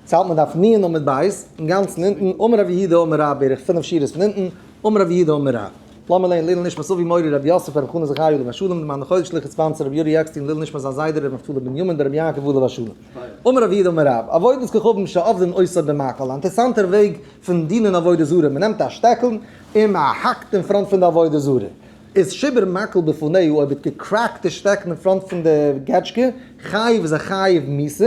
צייט מען דארף ניען עמוד ב' אינגאנצן אונטן, אמר רבי יהודה אמר רב בערך פינף שורות פון אונטן, אמר רבי יהודה אמר רב. לאמיר לערנען לעילוי נשמת אבי מורי רבי יוסף רבי חנה זכריה עליו השלום דעם אנדערן חודש לכת ספאנסער רבי יורי עקסטין לעילוי נשמת זיין זיידע רבי נפתלי בנימין בן רבי יעקב עליו השלום. אמר רבי יהודה אמר רב, עבודת כוכבים שעובדין עושה במקל, א אינטערעסאנטער וועג פון דינען עבודה זרה, מען נעמט א שטעקל און מען האקט אין פראנט פון די עבודה זרה, איז שבר מקל בפניו, אויב האט געקרעקט די שטעקן אין פראנט פון די געטשקע, חייב איז ער חייב מיתה.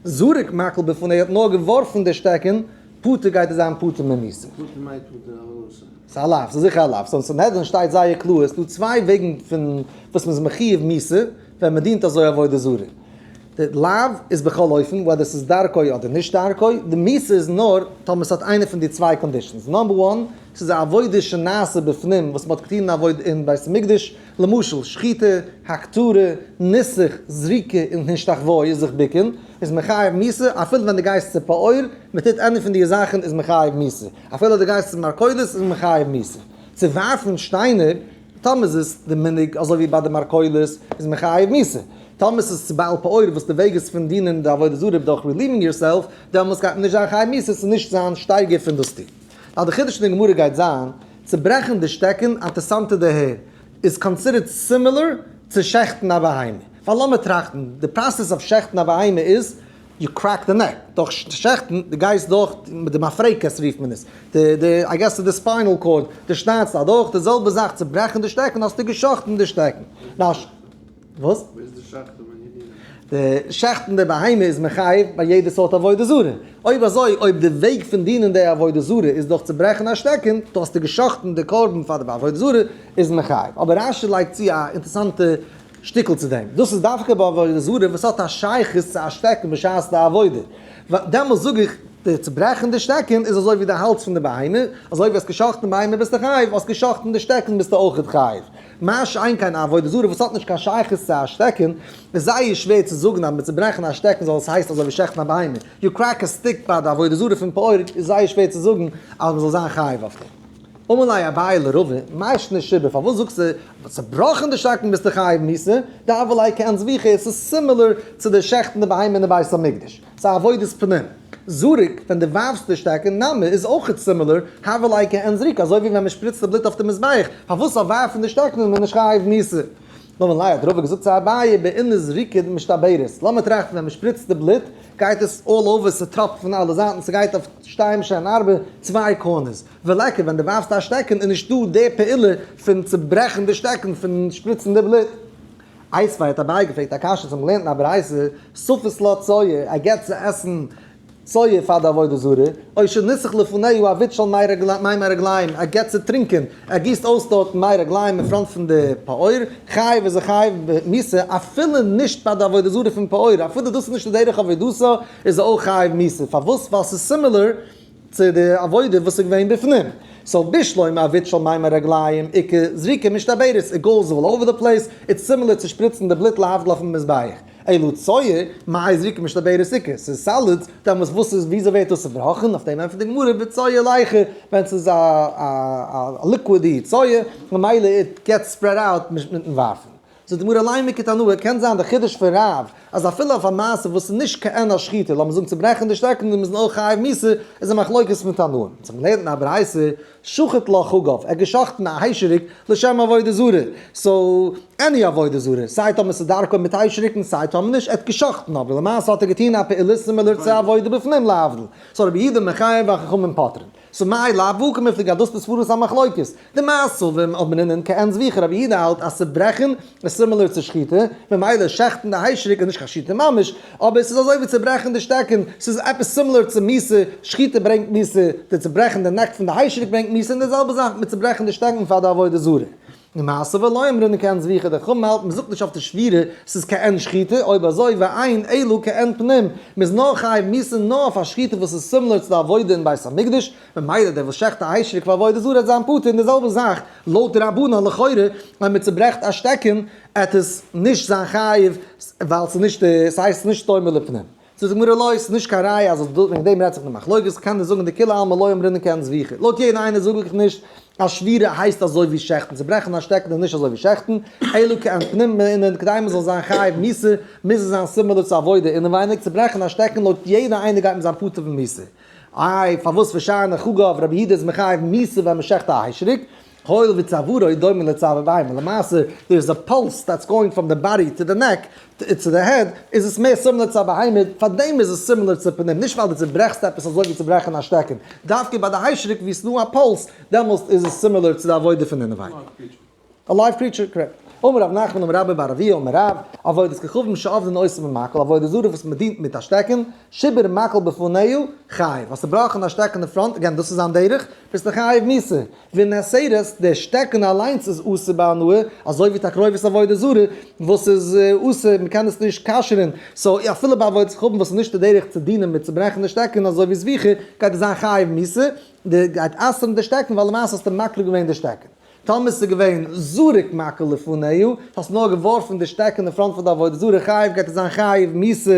זרק מקל בפני ער האט נאר געווארפן די שטעקן, פטור גייט ער זיין פטור ממסים. פטור מאיפה די ארוסה? ס'איז א לאו, ס'איז זיכער א לאו, ס'איז אין סנהדרין שטייט זייער קלאר, עס איז דא צוויי וועגן פון וואס מ'איז מחיוב מס' ווען מ'דינט אזוי עבודה זרה. די לאו איז בכל אופן וועדער ס'איז דרכו אדער נישט דרכו, די מס' איז נאר טאמער ס'האט איינע פון די צוויי קאנדישאנס, נאמבער וואן, ס'איז א עבודה שנעשה בפנים וואס מ'האט געטון אין בית המקדש, למשל, שחיטה, הכתרה, ניסוך, זריקה און השתחוואות, זיך בוקען, איז מחייב מיסה, אפילו ווען דו גייסט צו פאור, מען טוט עני פון די זאכן איז מחייב מיסה, אפילו דו גייסט צו מרקדות איז מחייב מיסה, צו ווארפן שטיינער, טאמער עס איז די מנהג אזוי ווי ביי די מרקדות, איז מחייב מיסה, טאמער עס איז צו בעל פאור וואס די וועג איז פון דינען די עבודה זרה דורך רעליווינג יור סעלף, דעמאלס גייט מען נישט זיין חייב מיסה, עס איז נישט זיין שטייגער פון דאס טון. נאר די חידוש פון די גמרא גייט זיין, צוברעכן די שטעקן, אינטערסאנטע דערהער, איז קאנסידערט סימילער צו שעכטן א בהמה. פאר לאמיר טראכטן, די פראסעס אויף שעכטן א בהמה איז, יו קרעק די נעק, דורך שעכטן, די גייסט דורך מיט די מאפרעיקעס רופט מען עס, די די איי געס ס'איז די ספיינעל קאורד, די שניידסט אדורך, די זעלבע זאך צוברעכן די שטעקן האסטו געשאכטן די שטעקן. וואס? וואו איז די שחט'ן ביי נדרים? די שחט'ן די בהמה איז מחייב ביי יעדע סארט עבודה זרה. אויב אזוי, אויב די וועג פון דינען די עבודה זרה איז דורך צו ברעכן א שטעקן, טאר האסטו גע'שחט'ן די קרבן פאר די עבודה זרה, איז מחייב. אבער רש י לייגט צו א אינטערעסאנטע שטיקל צו דעם. דאס איז דווקא ביי עבודה זרה וואס האט א שייכות צו א שטעקן בשעת די עבודה. ווייל דעמאלס זאג איך, די צוברעכן די שטעקן איז אזוי ווי די האלץ פון די בהמה, אזוי ווי האסט גע'שחט'ן בהמה ביסטו חייב, האסט גע'שחט'ן די שטעקן ביסטו אויכעט חייב. מה שאין כן א עבודה זרה וואס האט נישט קיין שייכות צו א שטעקן, איז זייער שווער צו זאגן אז מיט צוברעכן א שטעקן זאל עס הייסן אזוי ווי שעכטן א בהמה, יו קרעק א סטיק ביי די עבודה זרה פון פארט איז זייער שווער צו זאגן אז מען זאל זיין חייב אויף דעם. אמר ליה אביי לראובן, מאשט נשיבה, פארוואס זאגסטו אז מיט צובראכן די שטעקן ביסטו חייב מיתה, דאבלאי כעין זביחה, עס איז סימילער צו די שעכטן די בהמה אין די בית המקדש. סא עבודת פנים זרוק ווען די ווארפסט די שטעק אין נמי איז אויכעט סימילער הבל אי כ אין זרוק אזוי ווי ווען מען שפריצט די בלוט אויף די מזבח פארוואס אויף ווארפן די שטעקן איז מען נישט חייב מיסה? נאמן ליה האט רבא געזאגט צו אביי בעיני זריקין משתברת לאמיר טראכטן ווען מען שפריצט די בלוט גייט עס אלל אווער ס'טראפט פון אלע זייטן ס'גייט אויף שתיים שעהן ארבע צוויי קארנערס ולא כ ווען די ווארפסט א שטעקן איז נישטא די פעולה פון צוברעכן די שטעקן פון שפריצן די בלוט אייזפאר האט אביי געפרעגט א קשיא צום געלערנטן א ברייתא, סופת לא צויה, ער געבט צו עסן צויה פאר די עבודה זרה, או שניסח לפניהו א וויץ של מי רגלים מי מי רגלים, ער געבט צו טרינקען, ער גיסט אויס דארטן מי רגלים אין פראנט פון די פאור, חייב איז ער חייב מיתה, אפילו נישט פאר די עבודה זרה פון פאור, אפילו דאס איז נישט דרך עבודתו, איז ער אויך חייב מיתה, פארוואס? ווייל ס'איז סימילער צו די עבודה וואס איז געווען בפנים, סאו בישלו עם עביד של מים הרגליים עיקר זריקה משתברת, איט גאוס אלל אווער די פלעיס, איטס סימילער צו שפריצן די בלוט להבדיל אויפן מזבח, אילו צואה מאי זריקה משתברת עיקר ס'איז סאלידס, דעמאלטס וואס איז וויאזוי ווערט דאס צובראכן, אויף דעם ענטפערט די גמרא בצואה לייכער, ווען ס'איז א א ליקווידי צואה ממילא איט געטס ספרעד אוט מיטן ווארפן. זאגט די גמרא אליין מכת הנאה, קען זיין די חידוש פון רב אז אפילו אויף א מעשה וואס איז נישט כעין השחיטה, לאמיר זאגן צוברעכן די שטעקן און מיר זענען אויך חייב מיתה, איז א מחלוקת פון תנאים. מען האט זיך געלערנט אין א ברייתא, שחט לא חגב, ער האט געשאכטן א היישעריק לשם עבודה זרה, סאו עני עבודה זרה, סיי טאמער ס'איז דרכו מיט היישעריקן סיי טאמער נישט, ער האט געשאכטן אבער למעשה האט ער געטון א פעולה סימילער צו עבודה בפנים להבדיל, סאו רבי יהודה מחייב והחכמים פוטרין. שמאי לייב וואו קומט די גדלות איז פאראויס א מחלוקת. די מאסובים האבן אין אין קענס ווי כרב יהודה האלט אז צוברעכן איז סימילער צו שחיטה, ממילא שעכטן די היישעריק איז נישט קיין שחיטה ממש, אבער ס'איז אזוי ווי צוברעכן די שטעקן, ס'איז עפעס סימילער צו מיסה, שחיטה ברענגט מיסה, די צוברעכן די נעק פון די היישעריק ברענגט מיסה, און די זעלבע זאך מיט צוברעכן די שטעקן פאר די עבודה זרה. למעשה ולא אמרו מכאן זביחה די חמ מ האלטן מ'זאגט נישט אויף די שבירה ס'איז כעין שחיטה אויב אזוי ועיין אילו כעין פנים מ'איז נאר חייב מיסים נאר אויף א שחיטה וואס איז סימלער צו די עבודה אין בית המקדש ממילא דער וואס שעכט א היישעריק פאר עבודה זרה האט זיין פטור און די זעלבע זאך לויט די רבנן לכאורה אויב מ'צוברעכט א שטעקן עט עס נישט זיין חייב ווייל ס'איז נישט ס'הייסט נישט סתום מלפנים. זאגט די גמרא לא, עס איז נישט קיין ראיה אז וועגן דעם רעדט זיך די מחלוקת, כנ ל זאגן די כולי עלמא לא אומרים נקען זביחי, לויט יעדן איינער זאג איך נישט אז שבירה הייסט אזוי ווי שעכטן, צוברעכן א שטעקן איז נישט אזוי ווי שעכטן, אלא כעין פנים מענין כדי מען זאל זיין חייב מוסר מוז עס זיין סימילער צו עבודה אינעווייניג, צוברעכן א שטעקן לויט יעדן איינער גייט מען זיין פטור פון מוסר, איי פארוואס פארשיין איך אגב רבי יהודה איז מחייב מוסר ווען מען שעכט א היישעריק, הואיל ווי צווארע איז דומה לצוואר ביים און למעשה דער איז א פולס דעטס גאוינג פראם די באדי טו די נעק צו די העד איז עס מער סימילער צו א בהמה פאר דעם איז עס סימילער צו פנים נישט ווייל די צוברעכסט עפעס אזוי ווי צו ברעכן א שטעקן דווקא ביי די היישעריק ווי עס נאר א פולס דעמאלסט איז עס סימילער צו די עבודה פון אינעווייניג. א לייוו קריטשער קרעק. אמר רב נחמן אמר רבי בר אביה אמר רב, עבודת כוכבים שעובדין עושים במקל, עבודה זרה וואס מען דינט מיט א שטעקן, שיבר מקל בפניו, חייב, האסט צוברעכן א שטעקן אין פראנט, אגעין דאס איז זיין דרך, ביסטו חייב מיתה. ונעשרת, דער שטעקן אליינס איז אסור ביי הנאה, אזוי ווי תקרובת עבודה זרה וואס איז אסור, מען קען עס נישט כשר'ן, סאו אפילו ביי עבודת כפים וואס איז נישט די דרך צו דינען מיט צוברעכן די שטעקן אזוי ווי זביחה, גייט ער זיין חייב מיתה, די גייט אסר'ן די שטעקן ווייל למעשה האסטו מקריב געווען די שטעקן. טאמער ס'איז געווען זרוק מקל לפניו, האסט נאר געווארפן די שטעקן אין פראנט פון די עבודה זרה חייב גייט ער זיין חייב מיתה,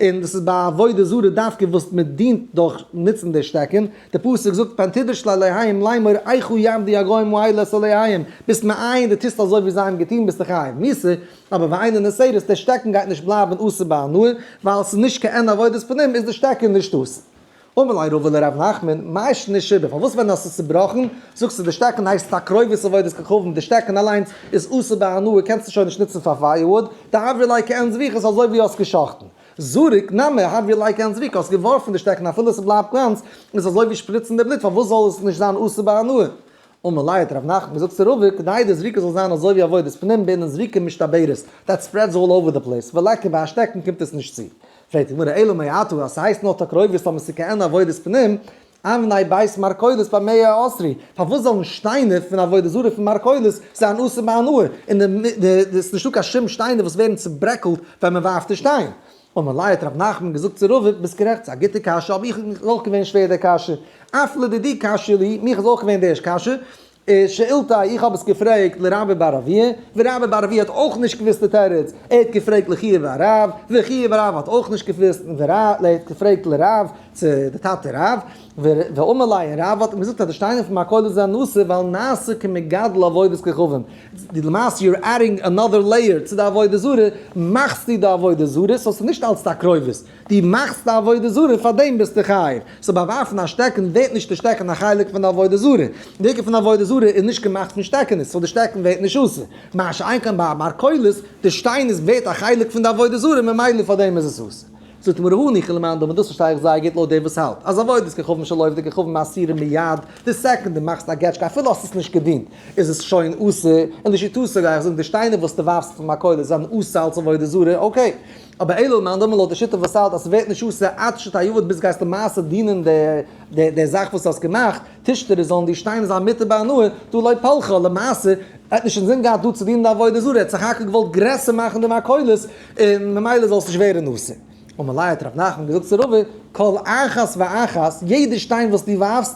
און דאס איז ביי עבודה זרה דווקא וואס מען דינט דורך נוצן די שטעקן, דער פסוק זאגט פארן טידוש לאלהים לאמור איכה יעמדו הגוים וואי לס אלהים, ביסט מעיין די טוסט אזוי ווי זיי האבן געטון ביסטו חייב מיתה, אבער ועיין אין הסדר דער שטעקן גייט נישט בלייבן אסור ביי הנאה, ווייל ס'איז נישט קיין עבודת פנים איז דער שטעקן נישט אסור. אמר לי רבא לר' נחמן, מאי שנית שיבא, פארוואס ווען האסטו צובראכן זאגסטו דער שטעקן הייסט תקרובת עבודת כוכבים, דער שטעקן אליינס איז אסור ביי הנאה קענסטו שוין נישט נוצן פאר פייערוואוד, דהעברה ליה כעין זביחו ס'איז אזוי ווי האסט געשחטן, זרוק נמר האט ווי לייק ענד זרוק האסט געווארפן די שטעקן אפילו עס בלייבט גאנץ איז עס אזוי ווי שפריצן די בלוט פארוואס זאל עס נישט זיין אסור ביי הנאה? אמר ליה את ר' נחמן געזאגט צו רבא כדי די זריקה זאל זיין אזוי ווי עבודת פנים בענין זריקה משתברת דעט ספרעדס אלל אווער די פלעיס ווי לייק ביי א שטעקן קומט עס נישט צו פרעגט די גמרא אלא מאי עתא אז ס'הייסט נאר טאקרויבערס טאמער ס'איז כעין עבודת פנים אבני בית מרכולת ביי מאה העשרי, פארוואס זאלן שטיינער פון עבודה זרה פון מרכולת זיין אסור ביי הנאה, און די די די עס איז נישטא קיין שום שטיינער וואס ווערן צוברעקלט ווען מען ווארפט די שטיין. אמר ליה האט ר' נחמן געזאגט צו רבב, ביסט גערעכט, ס'איז א גוטע קשיא, אבער איך איז אויך געווען שווער די קשיא, אף לדידי קשיא לי, מיך איז אויך געווען די ערשט קשיא, שאילתא, איך האב עס געפרעגט לרבי בר אביה, ווי רבי בר אביה האט אויך נישט געוואוסט די תירוץ, ער האט געפרעגט לחייא ורב, וחייא ורב האט אויך נישט געוואוסט, און ר' לוי האט געפרעגט לרב, צו די טאטע רב, ואמר ליה, און רב האט אים געזאגט אז די שטיינער פון מיין כולל זענען נאסע ווייל נעשה כמגדל עבודת כוכבים, למעשה יו אר עדינג אנאדער לעיער צו די עבודה זרה, מאכסטו די עבודה זרה, סאו ס'איז נישט אלץ די א קרובות. דו מאכסט א עבודה זרה פאר דעם ביסטו חייב. סאו ביי ווארפן א שטעקן ווערט נישט די שטעקן א חלק פון די עבודה זרה. די עיקר פון עבודה זרה איז נישט געמאכט פון שטעקענעס סאו די שטעקן ווערט נישט אסור. מה שאין כן ביי א מרכולת, די שטיין איז ווערט א חלק פון די עבודה זרה ממילא פאר דעם איז עס אסור. זאגט מרא הני כ למאן דאמר דאס פארשטיי איך זייער גוט לויט דער וואס האלט אז עבודת כוכבים של עובדי כוכבים אסירים מיד, די סעקונד דו מאכסט א געטשקע אפילו האסט עס נישט געדינט איז עס שוין אסור, און לשיטתו גיי איך זאגן די שטיינער וואס דו ווארפסט פון מכולת זענען אסור אלס עבודה זרה, אקעי. אבער אילו מאן דאמר לויט די שיטה וואס האלט אז ס'ווערט נישט אויס עד שתעבוד ביז גייסט למעשה דינען די זאך וואס האסט געמאכט, טישטער איז זאלן דיר שטיין אזא מיתה בהנאה, דא לא פלחא, למעשה האט נישט קיין זין געהאט דא צו דינען די עבודה זרה, ער האט סך הכל געוואלט גרעסער מאכן די מכולות און ממילא זאלסט נישט ווערן נאסר. אמאל האט ר' נחמן געזאגט צו רבא, כל אחת ואחת, יעדע שטיין וואס דו ווארפסט,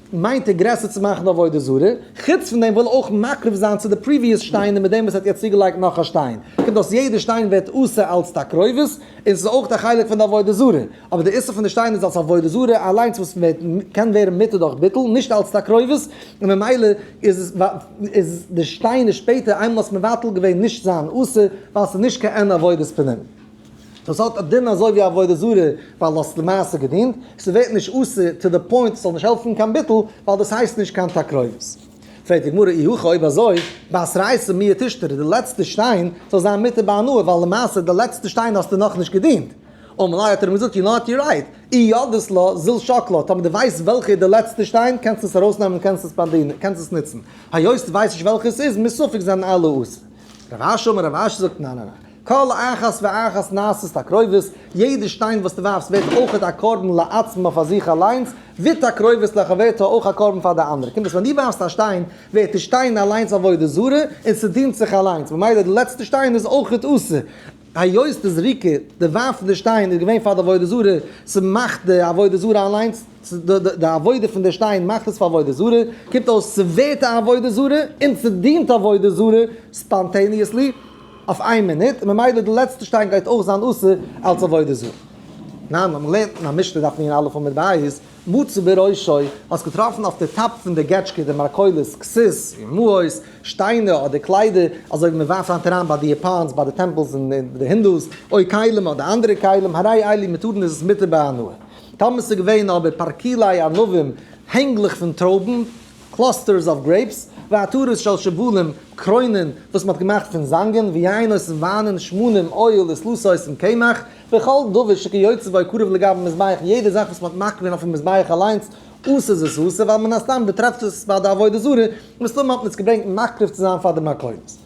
מיינט ער גרעסער צו מאכן די עבודה זרה, חוץ פון דעם וויל ער אויך מקרב זיין צו די פריוויעס שטיין און מיט דעם וואס ער האט יעצט צוגעלייגט נאך א שטיין קומט אויס יעדע שטיין ווערט אסור אלץ תקרובת און ס'איז אויך א חלק פון די עבודה זרה אבער די איסור פון די שטיין איז אלץ עבודה זרה אליינס וואס ווערט קען ווערן מותר דורך ביטול נישט אלץ תקרובת און ממילא איז עס איז די שטיין איז שפעטער איינמאל האסט מבטל געווען נישט זיין אסור ווייל ס'איז נישט קיין עבודת פנים. דאס האט א דין אזוי ווי עבודה זרה ווייל דו האסט למעשה געדינט, ס'ווערט נישט אסור טו די פוינט ס'זאל נישט העלפן קיין ביטול ווייל דאס הייסט נישט קיין תקרובת. פרעגט די גמרא אי הכא אויב אזוי בעשרייסע מיה תשתרי די לעצטע שטיין זאל זיין מותר ביי הנאה ווייל למעשה די לעצטע שטיין האסטו נאכנישט געדינט, אמר ליה האט ער אים געזאגט יו נאט יו רייט אי ידעת לה זיל שוק לה טאמער דו ווייסט וועלכע איז די לעצטע שטיין קענסטו עס ארויסנעמען און קענסט עס ספענדען קענסט עס נוצן היות דו ווייסט נישט וועלכע עס איז מסופק זענען אלע אסור. רב אשי אמר רב אשי זאגט ניין ניין ניין. כל אחת ואחת נעשית תקרובת, יעדע שטיין וואס דו ווארפסט ווערט אויך א קרבן לעצמו פאר זיך אליינס, ותקרובת לחברתה אויך א קרבן פאר די אנדערע, קומט אויס ווען דו ווארפסט א שטיין ווערט די שטיין אליינס עבודה זרה און ס'דינט זיך אליינס, ממילא די לעצטע שטיין איז אויך אסור, היות די זריקה, די ווארפן די שטיין איז געווען פאר די עבודה זרה, ס'מאכט די עבודה זרה אליינס, די עבודה פון די שטיין מאכט עס פאר עבודה זרה, קומט אויס ס'ווערט א עבודה זרה און ס'דינט עבודה זרה, ספאנטעניעסלי. אויף איין מינוט, און ממילא די לעצטע שטיין גייט אויך זיין אסור אלס עבודה זרה. ניין, ווען מ'לערנט אין א משתה דארף מען אלף אמות בית, מצא בראשו, האסט געטראפן אויף די טאפ פון די געטשקע די מרכולות, כסות, מעות, שטיינער אדער קליידער, אזוי ווי מ'ווארפט היינט אריין ביי די יאפאנס, ביי די טעמפלס און ביי די הינדוס, אוי כלים אדער אנדערע כלים, הרי אלי מותרין איז עס מותר בהנאה. טאמער ס'איז געווען אבער פרקילי ענבים, הענגלעך פון טרויבן, קלאסטערס אוו גרעיפס, ועטרת של שבלים, קרוינען וואס מען האט געמאכט פון זאנגען, ויענות און וויינען, שמנים, אויל, וסלוסיות און קמח, וכל דבר שכיוצא בו קרוב לגבי המזבח, יעדע זאך וואס מען האט מקריב געווען אויפן מזבח אליינס, עושה איז עושה, ווייל מן הסתם באטרעפט עס ביי די עבודה זרה, מסתמא האט מען עס געברענגט מקריב צו זיין פאר די מקורות.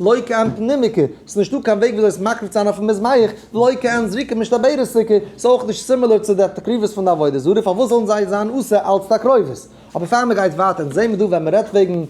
לא כעין פנימיקע, ס'איז נישטא קיין וועג וויאזוי עס מקריב צו זיין אויפן מזבח, לא כעין זריקה משתבערע סוכה, ס'איז אויך נישט סימילער צו די תקריבות פון די עבודה זרה, פארוואס זאלן זיי זיין אסור אלץ תקרובות? אבער פאר מען גייט ווייטער, אונז זעהן מיר דא ווען מען רעדט וועגן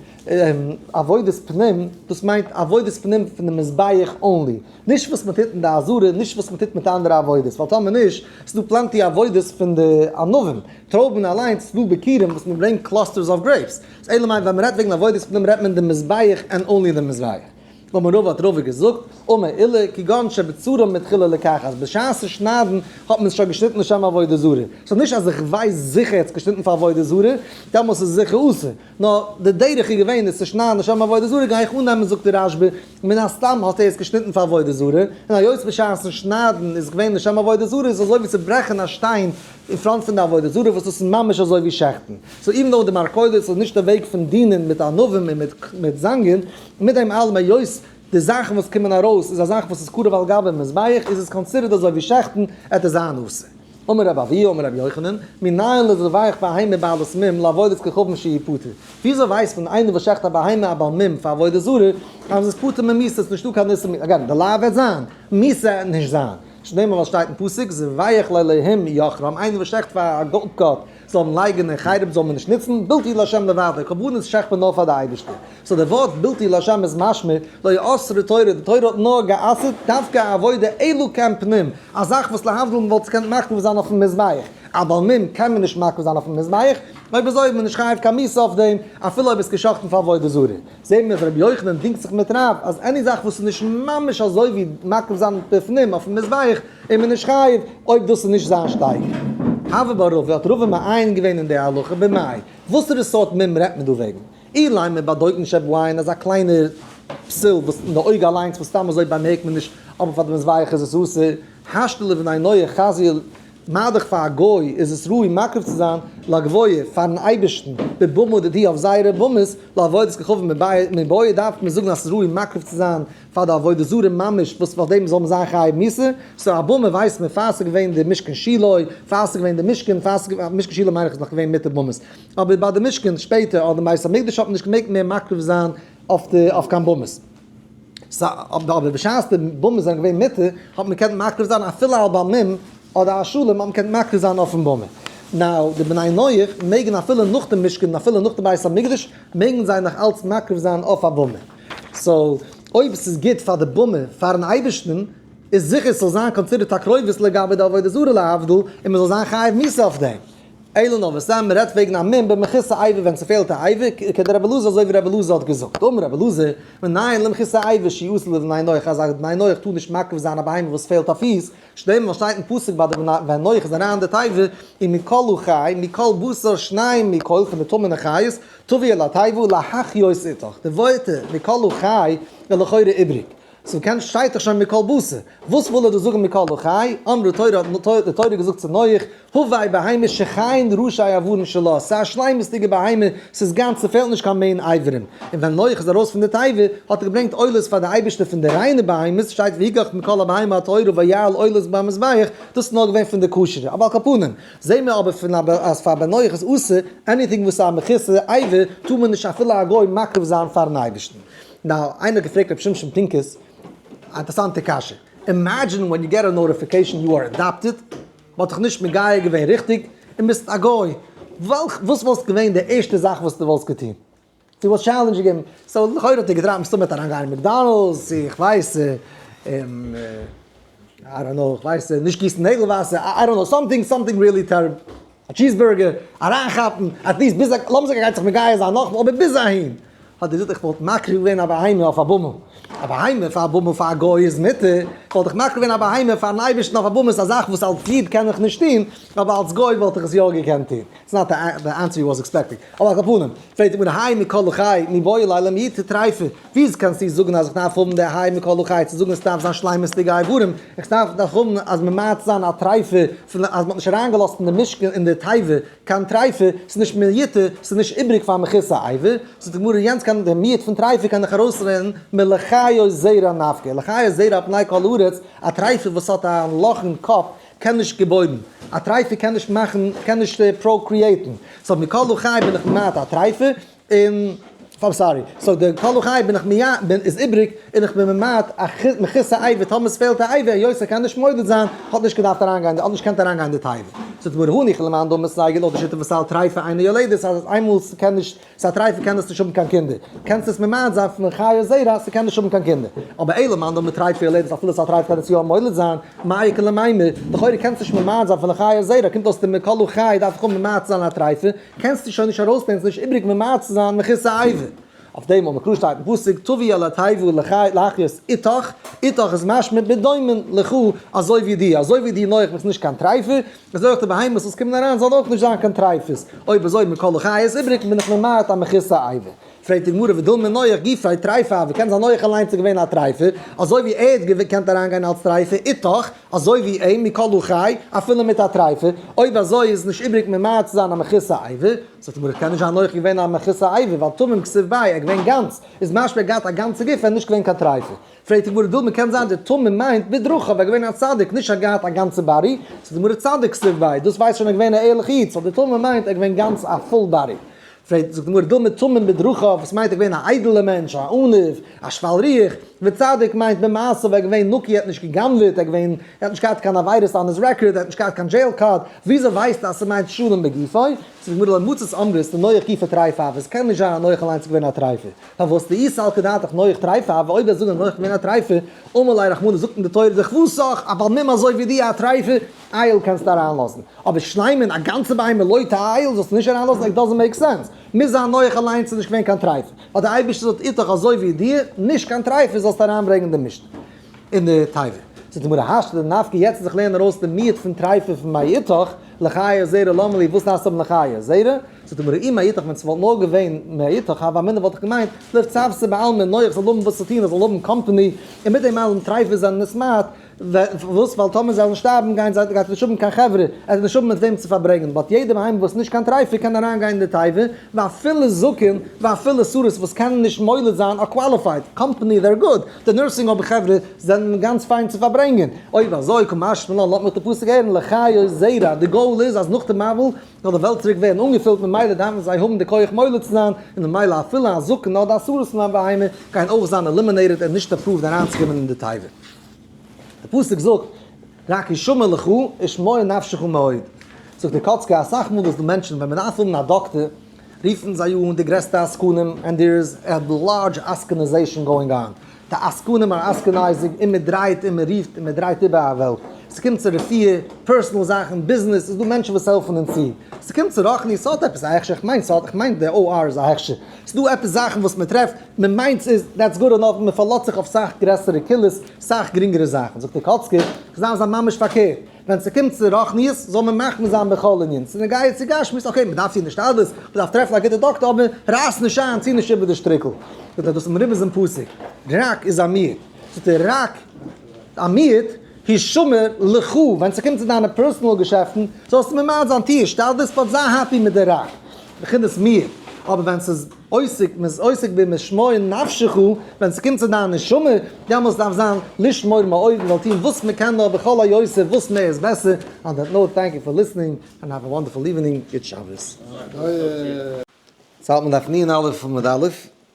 עבודת פנים, דאס מיינט עבודת פנים פון די מזבח אנלי, נישט וואס מען טוט אין די עזרה און נישט וואס מען טוט מיט אנדערע עבודות, ווייל טאמער נישט, ס'איז דא פלענטי עבודות פון די ענבים, טרויבן אליינס, ס'איז דא ביכורים וואס מען ברענגט קלאסטערס אוו גרעיפס, אלא מאי ווען מען רעדט וועגן עבודת פנים רעדט מען די מזבח ענד אנלי די מזבח. אבער רבא האט רבא געזאגט, אמר אילער, כגון שבצורה מתחילה לקח אז בשעת שניידן האט מען עס שוין געשניטן לשם עבודה זרה. סאו נישט אז איך ווייס זיכער עטס געשניטן פאר עבודה זרה, דעמאלס איז עס זיכער אסור. נאר די דרך איז געווען עס צו שניידן לשם עבודה זרה גיי איך אננעמען זאגט דער רשב א מן הסתם האט ער עס געשניטן פאר עבודה זרה, און היות בשעת'ן שניידן איז עס געווען לשם עבודה זרה איז עס אזוי ווי צו ברעכן א שטיין אין פראנט פון די עבודה זרה וואס דאס איז ממש אזוי ווי שעכטן, סאו איווען דאו די מלכודת איז נישט די וועג פון דינען מיט ענבים און מיט זאנגען, מיט דעם אלעם היות די זאכן וואס קומען ארויס איז א זאך וואס איז קרוב על גבי מזבח איז עס קאנסידערט אזוי ווי שעכטן, עט איז אן עשה. אמר רב אביה אמר רבי יוחנן, מנין לז לבייך בהמה בעלת מום לעבודת כוכבים שהיא פטור? וויאזוי ווייסט מען איינער וואס שעכט א בהמה א בעל מום פאר עבודה זרה אז עס איז פטור ממיסה עס איז נישטא קיין איסור מיסה, אגעין די לאו וועט זיין מיסה עט נישט זיין, שנעל וואס שטייט אין פסוק ז ויח ל להם יחרם איינער וואס שעכט פאר א גאט גאט זאל אים לייגען אין חרם זאל מען נישט נוצן בלתי לשם לבדו קרבנות שעכט מען נאר פאר די אייבערשטער סאו די ווארט בלתי לשם איז משמע לא יאסרו תורה די תורה האט נאר גע'אסר'ט דווקא א עבודה אלא כעין פנים א זאך וואס להבדיל מען וואלט עס געקענט מקריב זיין אויפן מזבח א בעל מום קען מען נישט מקריב זיין אויפן מזבח אויב אזוי איז מען נישט חייב קיין מיתה אויף דעם אפילו אויב עס געשאכטן פאר עבודה זרה. זעהט מען אז רבי יוחנן דינגט זיך מיט רב אז עני זאך וואס איז נישט ממש אזוי ווי מקריב זיין בפנים אויפן מזבח איז מען נישט חייב אויב דאס איז נישט זיין שטייגער. הוה ברוב האט רובא מעיין געווען אין די הלכה במאי. וואסערע סארט מים רעדט מען דא וועגן? אילן מען באדויט נישט עפ וויין אז א קליינע פסיל וואס אין די אויג אליינס וואס סתם אזוי באמערקט מען נישט אבער פאר די מזבח איז עס אסור השתלה ונענועה חזי ל. מה דאך פאר א גוי איז עס ראוי מקריב צו זיין לגביה פארן אייבערשטן בבמו דדי' אויף זייערע במות לעבודת כוכבים מבעי דארף מען זאגן אז עס איז ראוי מקריב צו זיין פאר די עבודה זרה ממש וואס פאר דעם זאל מען זיין חייב מיתה, סאו א במה ווייסט מען פאר עס איז געווען די משכן שילא פאר עס איז געווען די משכן פאר עס איז געווען משכן שילא מיין איך איז נאך געווען מיתה במות אבער ביי די משכן שפעטער אדער בית המקדש האט מען נישט געמעגט מער מקריב זיין אויף קיין במות. אבער בשעת די באמעס זענען געווען מיטער האט מען געקענט מקריב זיין אפילו א באמין אדער א שלום האט מען געקענט מקריב זיין אויפן באמע. נאו די בני נח מעגן אפילו נאך די משכן און אפילו נאך די בית המקדש מעגן זיי נאך אלץ מקריב זיין אויף א באמע. סאו אויב עס איז גוט פאר די באמע פארן אייבערשטן איז זיכער עס זאל זיין קאנסידערט א קרובות לגבי די עבודה זרה להבדיל און מען זאל זיין חייב מיתה אויף דעם. אלא נאר וואס סתם מ'רעדט וועגן א מום במחוסר עיבור ווען ס'פעלט א עיבור, כ ק דער רבי אלעזר אזוי ווי רבי אלעזר האט געזאגט, אמר רבי אלעזר, מנין למחוסר עיבור שי' אסור לבני נח אז א בני נח טאר נישט מעכב זיין א בהמה וואס פעלט א פיס, שדמ ווייל שטייט אין פסוק ביי די בני נח איז אריין די תיבה און מכלו חי מכל בשר שניים מכל פון די טמא'נע חיות תביא אל התיבה להחיות איתך, די ווערטער מכלו חי איז לכאורה איבריג. צום קעמפ שטייט דאך שוין מקל בשר, וואס וויל ער דא זאגן מקל וחי, אמרו תורה האט די תורה געזאגט צו נח, הווי בהמה שכיין ראשי איברים שלה, ס'איז א שלימות'דיגע בהמה, ס'איז גאנץ ס'פעלט נישט קיין מעין איברים, און ווען נח איז ארויס פון די תיבה האט ער געברענגט עולות פאר די אייבערשטער פון די ריינע בהמות, שטייט ויקח מכל הבהמה הטהורה ויעל עולות במזבח, דאס איז נאר געווען פון די כשר'ע, אויף כל פנים זעהן מיר אבער פון אז פאר ביי נח איז אסור, עניטינג וואס איז א מכוסה עיבור טאר מען נישט אפילו א גוי מקריב זיין פארן אייבערשטן. נאו, איינער האט געפרעגט ר' שמשון פינקוס א אינטערסאנטע קשיא, אימעדזשין ווען יו געט א נאוטיפיקעישאן יו אר אדאפטעד, מען האט דיך נישט מגייר געווען ריכטיג, און ביסט א גוי, וועלכ וואס וואלסט געווען די ערשטע זאך וואס דו וואלסט געטון? דו וואלסט טשעלענדזש געגעבן? סאו לכאורה האט ער געטרייט מסתמא מיט אריין גיין אין מעקדאנעלדס צו איך ווייס איי דאנט נאו, איך ווייס נישט גיסן נעגל וואסער, איי דאנט נאו, סאמטינג סאמטינג ריעלי טעריבל. א טשיזבורגער אריינכאפן, אטליעסט ביז א, לאמיר זאגן ער גייט זיך מגייר זיין נאכמאל, אבער ביז אהין האט ער געזאגט איך וואלט מקריב געווען א בהמה אויף א באמע, א בהמה פאר א באמע פאר א גוי איז מותר, וואלט איך מקריב געווען א בהמה פארן אייבערשטן אויף א באמע, ס'איז א זאך וואס אלס איד קען איך נישט טון, אבער אלס גוי וואלט איך עס יא געקענט טון, איטס נאט די ענסער יו וואס עקספעקטינג, אבער על כל פנים, פרעגט די גמרא האי מכל חי מי באי אלי למי תתרייפי, וויאזוי קענסטו זאגן אז איך דארף האבן די ה' מכל חי צו זאגן עס דארף זיין שלימות'דיגע איברים, איך דארף דאך האבן אז מען מיידט זיין א טריפה פון אז מען האט נישט אריינגעלאזט אין די משכן אין די תיבה קיין טריפה, ס'איז נישט מיותר, ס'איז נישט איבריג פאר מכיסה עיבור, זאגט די גמרא יענץ קען די מיעוט פון טריפה קען איך ארויסרעדן מלחיות זרע נפקא, לחיות זרע על פני כל הארץ, א טריפה וואס האט א לאכן קאפ קען נישט געבוירן, א טריפה קען נישט מאכן, קען נישט פראקריעיטן, סאו מכל חי בין איך ממעט א טריפה, און איים סארי, סאו די כה לחי בין איך מיה בין איז איבריג און איך בין ממעט א מכסה א עיוור טאמער עס פעלט א עיוור יוסי קען נישט מודה זיין האט נישט געדארפט אריין גיין האט נישט געקענט אריין גיין די תיבה ס'איז מר הני כ למאן דאמר סייגי לויט די שיטה פון סל טרייפה איינע יולדת אז אז איינמאל ס'קען נישט סל טרייפה קען עס נישט האבן קיין קינדער קענסט עס ממעט זיין פון חיה זרע אז ס'קען נישט האבן קיין קינדער אבער איי למאן דאמר טרייפה יולדת אפילו סל טרייפה קען עס יא מולד זיין מאי קא למימר לכאורה קענסט נישט ממעט זיין פון א חיה זרע קומט אויס די מר כה לחי דארף איך האבן ממעט זיין א טרייפה קענסטו שוין נישט ארויסנעמען, ס'איז נישט איבריג ממעט צו זיין מכסה עיבור. אויף דעם וואו מקור שטייט אין פסוק טוביה לא תעבור לחי להחיות איתך, איתך איז משמע בדומה לך, אזוי ווי די, אזוי ווי די נוח ביסט נישט קיין טרייפה, אזוי אויך די בהמות וואס קומען אריין זאלן אויך נישט זיין קיין טרייפות, אויב אזוי מכל החיות איבריג בין איך ממעט א מכסה עיבור. פרעגט די גמרא ודל מי נוח גיפרי טריפה ווי קען זיין נוח אליינס איז געווען א טריפה אזוי ווי ער האט געקענט אריין גיין אלץ טריפה איתך אזוי ווי אים מכל הוא חי אפילו מיט א טריפה אויב אזוי איז נישט איבריג ממעט צו זיין א מכוסה עיבור זאגט די גמרא קען נישט זיין נוח איז געווען א מכוסה עיבור ווייל תמים כסוף ביי ער איז געווען גאנץ איז משמע ער האט געהאט א גאנצע גוף ער איז נישט געווען קיין טריפה פרעגט די גמרא דל מי קען זיין די תמים מיינט בדרכיו ער איז געווען א צדיק נישט ער האט געהאט א גאנצע באדי זאגט די גמרא צדיק כסוף ביי דאס ווייזט שוין ער איז געווען א ערליכע איד סאו די תמים מיינט ער איז געווען גאנץ א פול באדי זעט, זאגט די גמרא, דא מצומים בדרכיו, וואס מיינט ער געווען א איידעלע מענטש, א עניו, א שפל ריח, וצדיק מיינט במעשיו ער איז געווען נקי ער האט נישט גע'גנב'עט, ער איז געווען, ער האט נישט געהאט קיין עבירות אן היז רעקארד, ער האט נישט געהאט קיין דזשעיל קארד, וויאזוי ווייסטו אז ס'מיינט שלום בגופו? זאגט די גמרא, למצות אמרה איז די נוח גופא טרייפא, אבער עס קען נישט זיין אז נוח אליינס איז געווען א טרייפער, פארוואס תהי סל כדעתך נוח טרייפא, אבער אויב וועסט זאגן אז נוח איז געווען א טרייפער, אמר ליה רחמנא זאגט אין די תורה זיך וואס סח, א בעל מום אזוי ווי דיר א טרייפער? אייל קענסטו אריינלאזן, אבער שלימ'ען א גאנצע ביהמ ד לויט אייל זאלסטו נישט אריינלאזן, עט דאזענט מעיק סענס, מוז זיין נוח אליינס איז נישט געווען קיין טרייפות, אז די אייבערשטער זאל איטך אזוי ווי דיר, נישט קיין טרייפות זאלסטו אריינברענגען די משנה אין די תיבה. זאגט די גמרא האשטע די נפק יעצט זיך לערנען ארויס די מיעוט פון טרייפות פון מאי איתך לחיי זרע למה לי וואס הייסט האבן לחיי זרע, זאגט די גמרא אי מאי איתך ווען ס'וואלט נאר געווען מאי איתך הווה אמינא וואלט איך געמיינט לב טוב ס'בעלמא נוח זאל האבן וואס צו טון ער זאל האבן קאמפעני און מיט דעם אלעם טרייפות זענען נישט מעט, וואס? ווייל טאמער זיי וועלן שטארבן גייען זיי גייט ער נישט האבן קיין חברה, ער גייט נישט האבן מיט וועם צו פארברענגען, באט יעדער בהמה וואס איז נישט קיין טרייפער קען אריין גיין אין די תיבה, ואפילו זקן ואפילו סורות וואס קענען נישט מוליד זיין אר קוואליפייד, קאמפאני זער גוד, די נורסינג האום חברה זענען גאנץ פיין צו פארברענגען, אויב אזוי קום אשמע לן לאמיר די פסוק הערן לחיות זרע, די גאול איז אז נאך די מבול זאל די וועלט צוריק ווערן אנגעפילט ממילא דארפן זיי האבן די כח מוליד צו זיין, און ממילא אפילו א זקן אדער א סורות פון א בהמה גייען אויך זיין עלימינעיטעד און נישט עפראווד אריינצוקומען אין די תיבה. די פסוק זאגט רק ישמר לך ישמור נפשך מאוד, זאגט די קאצקע אסאך מאל איז דא מענטשן ווען מען דארף האבן א דאקטער רופן זיי אן די גרעסטע עסקנים ענד דער איז א לארדזש עסקנעזעישאן גאוינג אן, די עסקנים אר עסקנייזינג און מען דרייט און מען רופט און מען דרייט איבער א וועלט, ס'קומט צו רפואה, פערסענעל זאכן, ביזנעס, איז דא מענטשן וואס העלפן אונז צו, ס'קומט צו רוחני, ס'האט עפעס א הכשר, כ'מיין ס'האט, כ'מיין די OR איז א הכשר. ס'דא עפעס זאכן וואס מ'טרעפט, מ'מיינט ס'איז דעטס גוד ענאף, מ'פארלאזט זיך אויף סאך גרעסערע קהילות, סאך גרינגערע זאכן. זאגט דער קאצקער, כ'זעה אז ממש פארקערט, ווען ס'קומט צו רוחניות זאל מען מחמיר זיין בכל ענין, ס'נוגע צו גשמיות, אקעי, מ'דארף טון השתדלות, מ'דארף טרעפן א גוטע דאקטער, אבער רייס נישט איין, ציה נישט איבער די שטריקל. זאגט ער, דאס איז דעם רבינ'ס פסק, רק איז א מיעוט. זאגט ער, רק א מיעוט, הישמר לך, ווען ס'קומט צו דיינע פערסאנעל געשעפטן, זאלסטו ממעט זיין, טו השתדלות, באט זיי העפי מיט די רק. בחינת מיר, אבער ווען ס'איז עוסק, מ'איז עוסק במשמור נפשך, ווען ס'קומט צו דיין נשמה, דעמאלס דארף זיין לשמור מאויבן, זאל טון וואס מ'קען נאר בכל היותר וואס מער איז בעסער, אן דעט נאוט טענק יו פאר ליסענינג ענד האוו א וואנדערפול איווענינג, גוט שבת.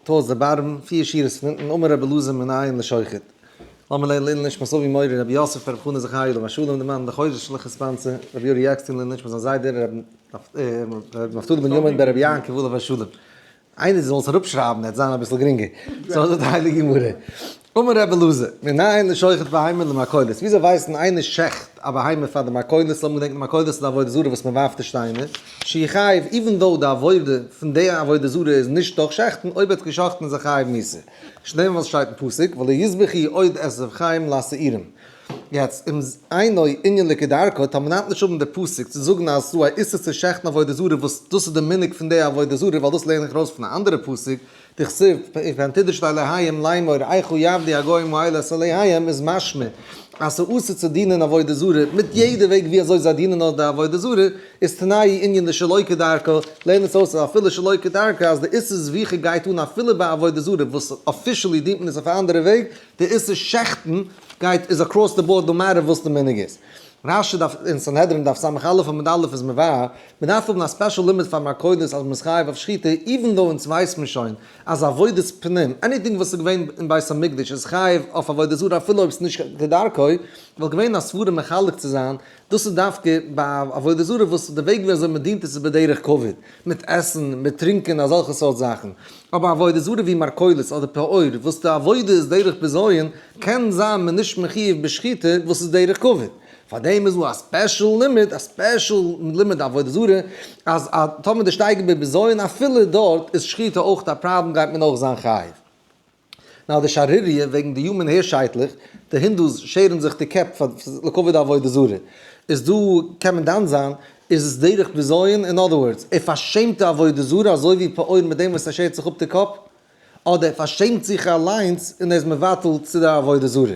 טוה זיי בארעווען פיר שורות פון אונטן אמר רבי אלעזר מן העין לשוחט לאמיר לערנען לעילוי נשמת אבי מורי רבי יוסף רבי חנא זכרי' עליו השלום דער מאן דכר זשע שליח הספאנסע רבי אורי עקשטיין לעילוי נשמת זיין זיידע רבי נפתלי בנימין בן רבי יעקב עליו השלום איינער זאל עס אראפשרייבן עט זיין אביסל גרינגער סאיז אויס די הייליגע גמרא. אמר רבי אלעזר, מן היין לשוחט בהמה למכולות, וויאזוי ווייסט מען איינער שעכט א בהמה פאר די מכולות, לאמיר געדענקן מכולות איז די עבודה זרה וואס מען ווארפט די שטיינער, שהיא חייב, איווען דאו די עבודה פון די עבודה זרה איז נישט דורך שעכטן, אויב ער האט געשאכטן איז ער חייב מוסר, שניהם וואס שטייט אין פסוק, ולא יזבח היא עוד את זבח חיים לשעירים. יעצט, אום אינו ענין לקדרקא, טאר מען היינט נישט האבן די פסוק צו זאגן אז עס איז דא א איסור צו שעכטן עבודה זרה וואס דאס איז די מנהג פון די עבודה זרה ווייל דאס לערן איך ארויס פון א אנדערע פסוק, דכתיב פ פן תדרשו אלהיהם לאמור איכה יעבדי הגוים האלה את אלהיהם איז משמע אז ס'איז אסור צו דינען עבודה זרה מיט יעדע וועג ווי אזוי זיי דינען אויס די עבודה זרה איז תנאי ענין די שלא כדרכה לערן עס אויס אז אפילו שלא כדרכה אז די איסור זביחה גייט אן אפילו ביי עבודה זרה וואס אפישעלי דינט מען עס אויף א אנדערע וועג די איסור שחט'ן גייט איז אקראס די באורד נאו מעטער וואס די מנהג איז רש י דארף אין סנהדרין דף סה א עמוד א' איז מבאר, מען דארף האבן א ספעשל לימוד פאר מרקודות אז מען איז חייב אויף שחיטה, איווען דאו אונז ווייסט מען שוין אז עבודת פנים, עניטינג וואס איז געווען אין בית המקדש איז חייב אויף עבודה זרה אפילו אויב ס'איז נישט כדרכו, וואלט געווען א סברה מחלק צו זיין, דאס איז דווקא ביי עבודה זרה וואס די וועג ווי אזוי מען דינט עס איז בדרך כבוד. מיט עסן, מיט טרינקען, אזעלכע סארט זאכן. אבער א עבודה זרה ווי מרכולות אדער פעור וואס די עבודה איז דרך בזיון, קען זיין מען נישט מחיוב בשחיטה וואס איז דרך כבוד. פאר דעם איז דא א ספעשל לימוד, א ספעשל לימוד די עבודה זרה, אז טאמער די שטייגער בבזיון אפילו דארט איז שחיטה אויך א פראבלעם גייט מען אויך זיין חיוב. נאר די שערוריה וועגן די יומען העיר שייטלעך, די הינדוס שערן זיך די קעפ פאר לכבוד א עבודה זרה, איז דא קען מען דן זיין איז עס דרך בזיון אין אדער ווארדס ער פארשעמט די עבודה זרה אזוי ווי פרעה מיט דעם וואס ער שערט זיך אפ די קאפ, אדער ער פארשעמט זיך אליינס און ער איז מבטל צו די עבודה זרה.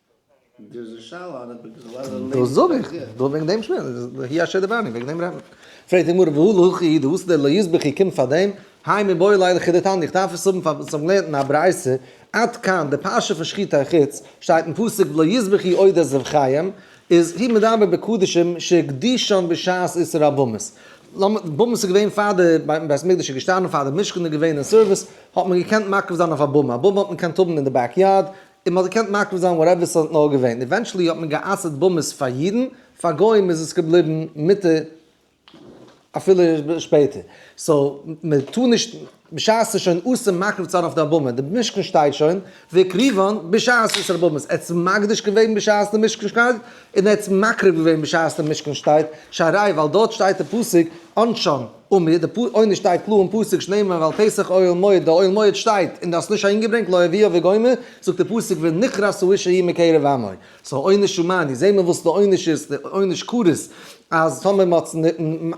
דאס זאג איך, דא וועגן דעם שמועס, והי' אשר דיברנו, וועגן דעם רעדט מען. פרעגט די גמרא, והוא לא הכי, דאס דער לא יזבק הי קומט פאר דעם, האי מבואי ליה לכי דתניא, איך דארף עס האבן פאר וואס איך האב געלערנט אין א ברייתא, עד כאן, די פרשה פון שחיטה אין חוץ, שטייט אין פסוק ולא יזבק הי עוד את זבחיהם, איז הי מדבר בקדשים שהקדישם בשעת איסור הבמות. במות איז געווען פאר די, ביים בית המקדש איז געשטאנען, פאר די משכן איז געווען אין סערוויס, האט מען געקענט מקריב זיין אויף א במה, א במה האט מען געקענט האבן אין די בעק יארד, און מ'האט געקענט מקריב זיין וואטעווער ס'האט נאר געווען, עווענטשעלי האט מען גע'אסר'ט באמעס פאר אידן, פאר גוים איז עס געבליבן מותר אפילו שפעטער, סאו מען טאר נישט, בשעת ס'איז שוין אסור מקריב צו זיין אויף די באמע, די משכן שטייט שוין, והקריבון בשעת עשר באמעס, ער האט עס מקדיש געווען בשעת די משכן שטייט, און ער האט עס מקריב געווען בשעת די משכן שטייט, שהראי' ווייל דארט שטייט די פסוק אנשון. און מיט די פּ עונש שטייט קלאר אין פּסוק שנאמר ועל פסח אוהל מועד, דער אוהל מועד שטייט און דו האסט נישט אהינגעברענגט לא הביאה וגומר, זאגט דער פּסוק ונכרס האיש ההיא מקרב עמו, סאו עונש הומאני, זעהן מיר וואס די עונש איז, די עונש כרת אז טאמער מען האט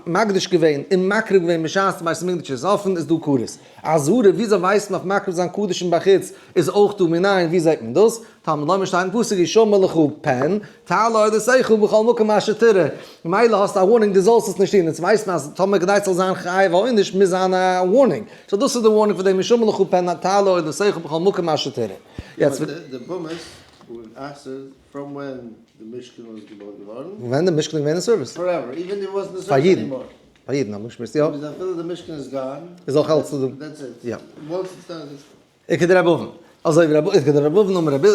מקדיש געווען און מקריב געווען בשעת בית המקדש איז אפען איז דא כרת. אזהרה, וויאזוי ווייסט מען אויף מקריב זיין קדשים בחוץ איז אויך דא מנין ווי זעהט מען דאס? טאר מען לאמיר שטייגן פסוק ישמע לך פן תעלה אל עשיך בכל מקום אשר תראה, ממילא האסטו א ווארנינג דו זאלסט עס נישט טון, אונז ווייסן אז טאמער כדי ס'זאל זיין חיוב א עונש מוז זיין א ווארנינג, סאו דאס איז די ווארנינג פון דעם ישמע לך פן תעלה אל עשיך בכל מקום אשר תראה. ווען די משכן איז געווען אין סערוויס? פאר אידן, פאר אידן האט מען געשמועסט יא. איז אויך אלץ דא. און כדר' רב אבן, אזוי ווי רב, און כדר' רב אבן אמר רבי,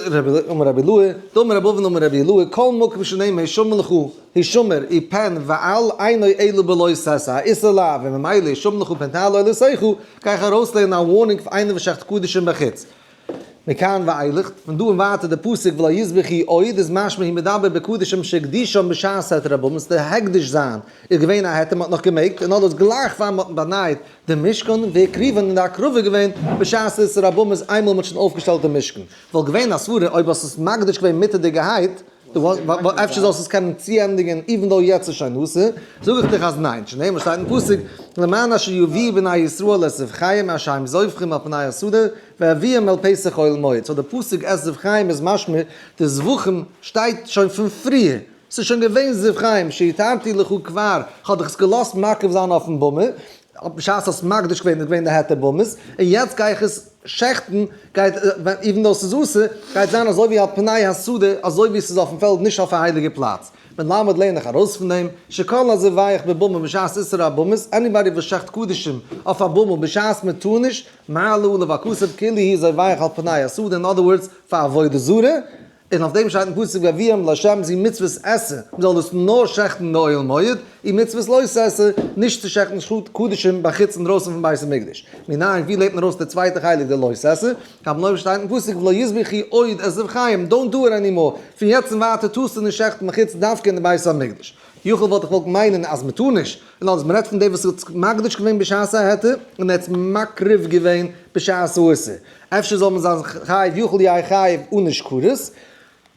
אמר רבי לוי, דאמר רב אבן אמר רבי לוי, כל מקום שנאמר הישמר לך, הישמר, אי פן ואל עיני אלא בלא שש א, איסור לאו, און ממילא הישמר לך פן תעלה אל עשיך, גיי איך ארויסלערנען א ווארנונג פאר איינער וואס שעכט קדשים בחוץ. מכאן ואילך, פון דא און ווייטער די פסוק ולא יזבחי עוד, איז משמע היא מדבר בקדשים שהקדישם בשעת העת רב אבן'ס, די הקדש זיין איז געווען א עת מען האט נאך געמעגט, און אלעס גלייך פאר מען האט באנייט די משכן והקריבן און די הקרבה געווען בשעת עשרת רבנים איז איינמאל מען האט שוין אויפגעשטעלט די משכן וואלט געווען א סברה אויב האסט עס מקדיש געווען מיטעדיגערהייט אפשר זאלסט עס קענען צוענדיגען איווען דאו יעצט איז שוין נאסער זאג איך דיך אז ניין שנאר וואס שטייט אין פסוק למען אשר יביאו בני ישראל את זבחיהם אשר הם זובחים על פני הסודר והביאם אל פסח אוהל מועד סאו די פסוק את זבחיהם איז משמע די זבחים שטייט שוין פון פריער. ס'איז שוין געווען זיו חיים, שהתרתי לך כבר, כ'האב דיך עס געלאזט מקריב זיין אויפן במה, בשעת האסט מקדיש געווען, איז געווען די היתר במות, און יעצט גיי איך עס שעכטן, גייט, איווען דאו ס'איז אסור, גייט זיין אזוי ווי על פני השדה, אזוי ווי ס'איז אויפן פעלד, נישט אויף א הייליגע פלאץ. מלמד לערן איך ארויס פון דעם, שכל הזיווייך בבמה בשעת איסור הבמות, עניבאדי וואס שעכט קדישים אויף א במה בשעת מען טאר נישט, מעלה עליו הכסף כאילו היא זיווייך על פני השדה, אין אדער ווארדס, פאר עבודה זרה, און אויף דעם שטייט אין פסוק והביאם לה' זי מצוות עשה, מען זאל דאס נאר שעכטן באוהל מועד, און מצוות לא תעשה, נישט צו שעכטן שחוט קדשים בחוץ אינדרויסן פון בית המקדש. מנין, ווי לערנט מען ארויס די צווייטע חלק די לא תעשה? אבן עובר שטייט אין פסוק ולא יזבחי עוד את זבחיים, דאונט דו איט עני מאר, פון יעצט און ווייטער טארסטו נישט שעכטן בחוץ דווקא אין די בית המקדש. יכול וואלט איך געוואלט מיינען אז מען טאר נישט, און אז מען רעדט פון דער וואס האט זיך מקדיש געווען בשעת ההיתר, און ער האט עס מקריב געווען בשעת האיסור. אפשר זאל מען זיין חייב יחול יהיה חייב אן נישט כרת.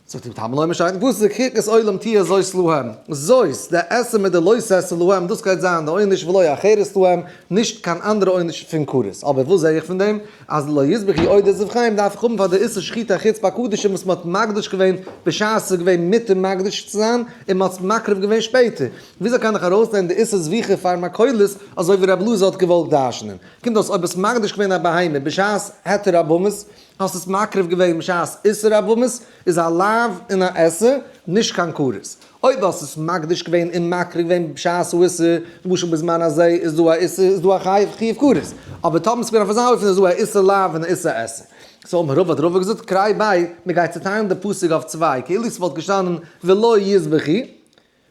זאגט די תמ ל משי ת וואס איז די קרקס עולם תהיה זאת להם, זאת די עשה מיט די לא תעשה להם דאס גייט זיין די עונש ולא יהיה חרת להם נישט קיין אנדערע עונש פון כרת, אבער וואס זע איך פון דעם אז לא יזבח יהיה עוד עזוב חיים דארף איך האבן פאר די איסור שחיטה חוץ ביי קדשים וואס מען האט מקדיש געווען בשעת עס איז געווען מותר מקדיש צו זיין און מען האט עס מקריב געווען שפעטער, וויאזוי קען איך ארויסנעמען די איסור זביחה פאר מכולות אזוי ווי רבי אלעזר האט געוואלט דרש'נען? קומט אויס אויב האסט מקדיש געווען א בהמה בשעת היתר הבהמות, האסט עס מקריב געווען בשעת איסור הבהמות, איז א לאו און א עשה, נישט קיין כרת. אויב האסט עס מקדיש געווען און מקריב געווען בשעת הוא איסור, למשל בזמן הזה, איז דא א איסור, איז דא א חיוב כרת. אבער טאמער עס איז געווען אויף אזא אופן איז דא א איסור לאו און א איסור עשה. סאו מרוב האט רבא געזאגט קריי ביי, מען גייט צוטיילן די פסוק אויף צוויי, כאילו ס'וואלט געשטאנען ולא יזבחי,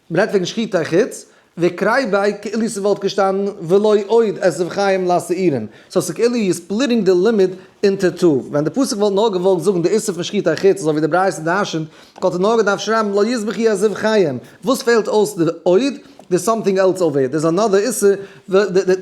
מען רעדט וועגן שחיטה אין חוץ וקריי ביי כאילו ס'וואלט געשטאנען ולא עוד עשב חיים לשעירים, סאו ס'כאילו יו ספליטינג די לימוד אינטו טו, ווען די פסוק וואלט נאר געוואלט זאגן די איסור פון שחיטה אין חוץ אזוי ווי די ברייתא דרש'נט, וואלט ער נאר געדארפט שרייבן לא יזבח י עשב חיים, וואס פעלט אויס די עוד? דער'ס סאמטינג עלס אויף דער, דער'ס אנאדער איסור,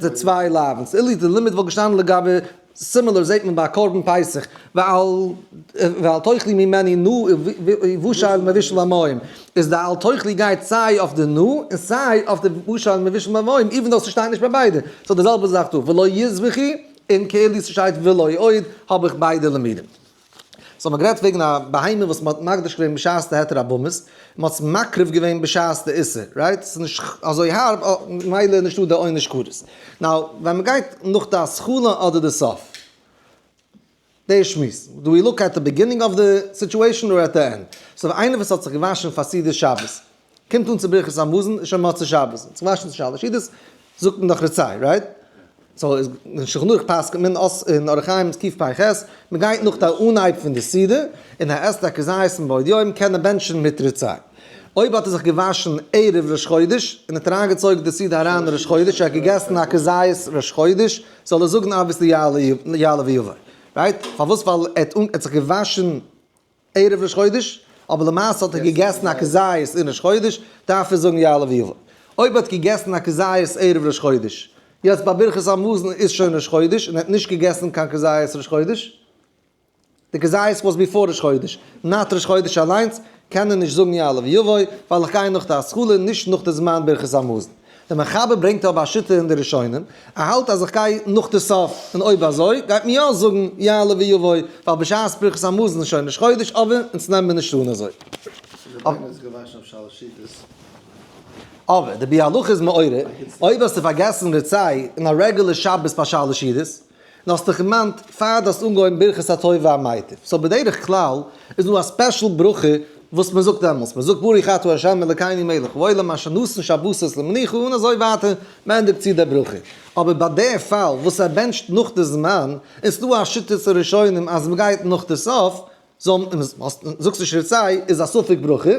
די צוויי לאוו'נס, אילו די לימוד וואלט געשטאנען לגבי. סימילער זעט מען ביי קרבן פסח, ואל תאכלי ממני נא ובשע אל מבשל המים, איז די אל תאכלי גייט סיי אויף די נא און סיי אויף די ובשע אל מבשל המים, איווען דאו ס'שטייט נישט ביי ביידע, ס'איז די זעלבע זאך דא, ולא יזבחי און כאילו ס'שטייט ולא עוד האב איך ביידע למידים. סאו מען האט גערעדט וועגן א בהמה וואס מען האט מקדיש געווען בשעת די היתר הבמות, און מען האט עס מקריב געווען בשעת די איסור, רייט? ס'איז נישט אזוי הארב, ממילא איז נישטא די עונש כרת. נאו ווען מען גייט נאך די השכלה אדער די סוף? דער שמועס, דו ווי לוק עט די ביגינינג אוו די סיטועשאן אדער עט די ענד? סאו איינער וואס האט זיך געוואשן פאר סעודת שבת. קומט אן צו ברכת המזון איז שוין מוצאי שבת זיך צו וואשן צו שלש סעודות זאגט מען דאך רצי רייט סאו איז אין שלחן ערוך פסק'נט מען אס אין אורח חיים'ס ק פ פ ח מען גייט נאך די אנהייב פון די סעודה און ער עסט א כזית און בעוד יום קען ער בענטשן מיט רצי אויב האט ער זיך געוואשן ערב ראש חודש און האט אריין געצויגן די סעודה אריין ראש חודש ער האט געגעסן א כזית ראש חודש זאל ער זאגן אביסל יעלה ויבוא רייט פארוואס ווייל ער האט זיך געוואשן ערב ראש חודש, אבער למעשה האט ער געגעסן א כזית אין ראש חודש, דארף ער זאגן יעלה ויבא. אויב ער האט געגעסן א כזית ערב ראש חודש, יעצט ביי ברכת המזון איז שוין ראש חודש און ער האט נישט געגעסן קיין כזית ראש חודש, די כזית וואס ביפאר ראש חודש, נאט ראש חודש אליינס, קען ער נישט זאגן יעלה ויבא, ווייל איך גיי נאך די השכלה, נישט נאך די זמן ברכת המזון. דער מחבר ברענגט אבער א שיטה אין די ראשונים, ער האלט אז איך גיי נאך די סוף, און אויב אזוי גייט מען יא זאגן יעלה ויבוא, ווייל בשעת פרקת המזון איז שוין ראש חודש אב און אונז נעמען נישט אן אזוי. אבער די ביאלאך איז מעורר, אויב האסטו פארגעסן רצי אין א רעגולער שבת פאר שלש שידות, און האסט דיך דערמאנט פאר די האסט אנגעהויבן ברכת הטוב והמיטיב, סאו בדרך כלל איז דא א ספעשל ברכה וואס מען זאגט דעמאלטס, מען זאגט ברוך אתה ה' אלקינו מלך העולם אשר נתן שבתות למנוחה און אזוי ווייטער, מען ענדיגט צו די ברכה, אבער ביי די פאל וואס ער בענטשט נאך די זמן, און ס'איז דא א שיטת הראשונים אז מען גייט נאך די סוף, זאגסט נישט רצי איז א ספק ברכה,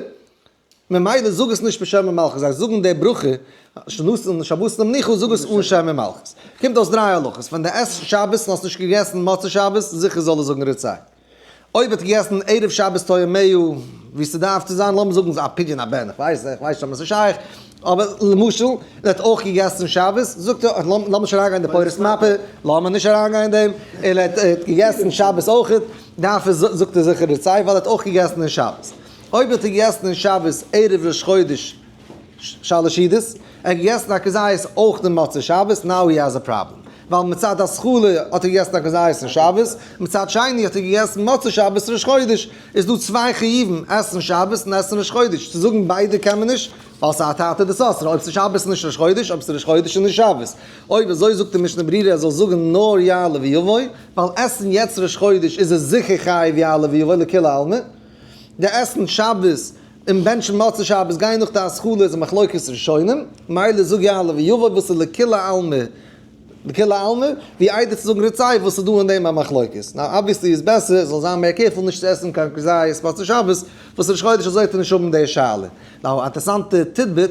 ממילא זאג עס נישט בשם ומלכות, זיי זאגן די ברכה שנאת'ן שבת למנוחה, זאג עס אן שם ומלכות. קומט אויס דריי הלכות, ווען די עסט שבת און האסט נישט געגעסן מוצאי שבת, זיכער זאל ער זאגן רצי. אויב האט ער געגעסן ערב שבת טועמיו, ווי ס'דארף צו זיין, לאמיר זאגן א פדיון הבן, איך ווייס איך ווייס נישט אויב עס איז שייך, אבער למשל, ער האט אויך געגעסן שבת, זאגט ער, לאמיר נישט אריינגיין אין די פורת מאפע, לאמיר נישט אריינגיין אין דעם, ער האט געגעסן שבת אויכעט, דארף ער, זאגט ער זיכער רצי, ווייל ער האט אויך געגעסן אין שבת. אויב האט ער געגעסן אין שבת ערב ראש חודש שאלעשידעס, ער האט געגעסן א כזית אויך די מוצאי שבת, נאו הי העז א פראבלעם, ווייל מצד השכלה האט ער געגעסן א כזית אין שבת, מצד שני האט ער געגעסן מוצאי שבת ראש חודש, איז דא צוויי חיובים, עסן שבת און עסן ראש חודש, צו זאגן ביידע קען מען נישט, ווייל ס'האט היתר דאסרה, אויב ס'איז שבת איז נישט ראש חודש, אויב ס'איז ראש חודש איז נישט שבת, אויב אזוי זאגט די משנה ברורה ער זאל זאגן נאר יעלה ויבוא, ווייל עסן יעצט ראש חודש איז ער זיכער חייב יעלה ויבוא לכולי עלמא. די עסן שבת און בענטשן מצה שבת גיין נאך די השכלה איז א מחלוקת ראשונים, מילא זאג יעלה ויבא וואס איז לכולי עלמא לכולי עלמא, ווי איידער צו זאגן רצי וואס איז דא אין דעם א מחלוקת. נאו אבוויעסלי איז בעסער זאל זיין מער קעירפול נישט צו עסן קיין כזית מצה שבת, וואס ראש חודש אזוי וועט ער נישט האבן די שאלה. נאו א אינטערעסאנטע טידביט.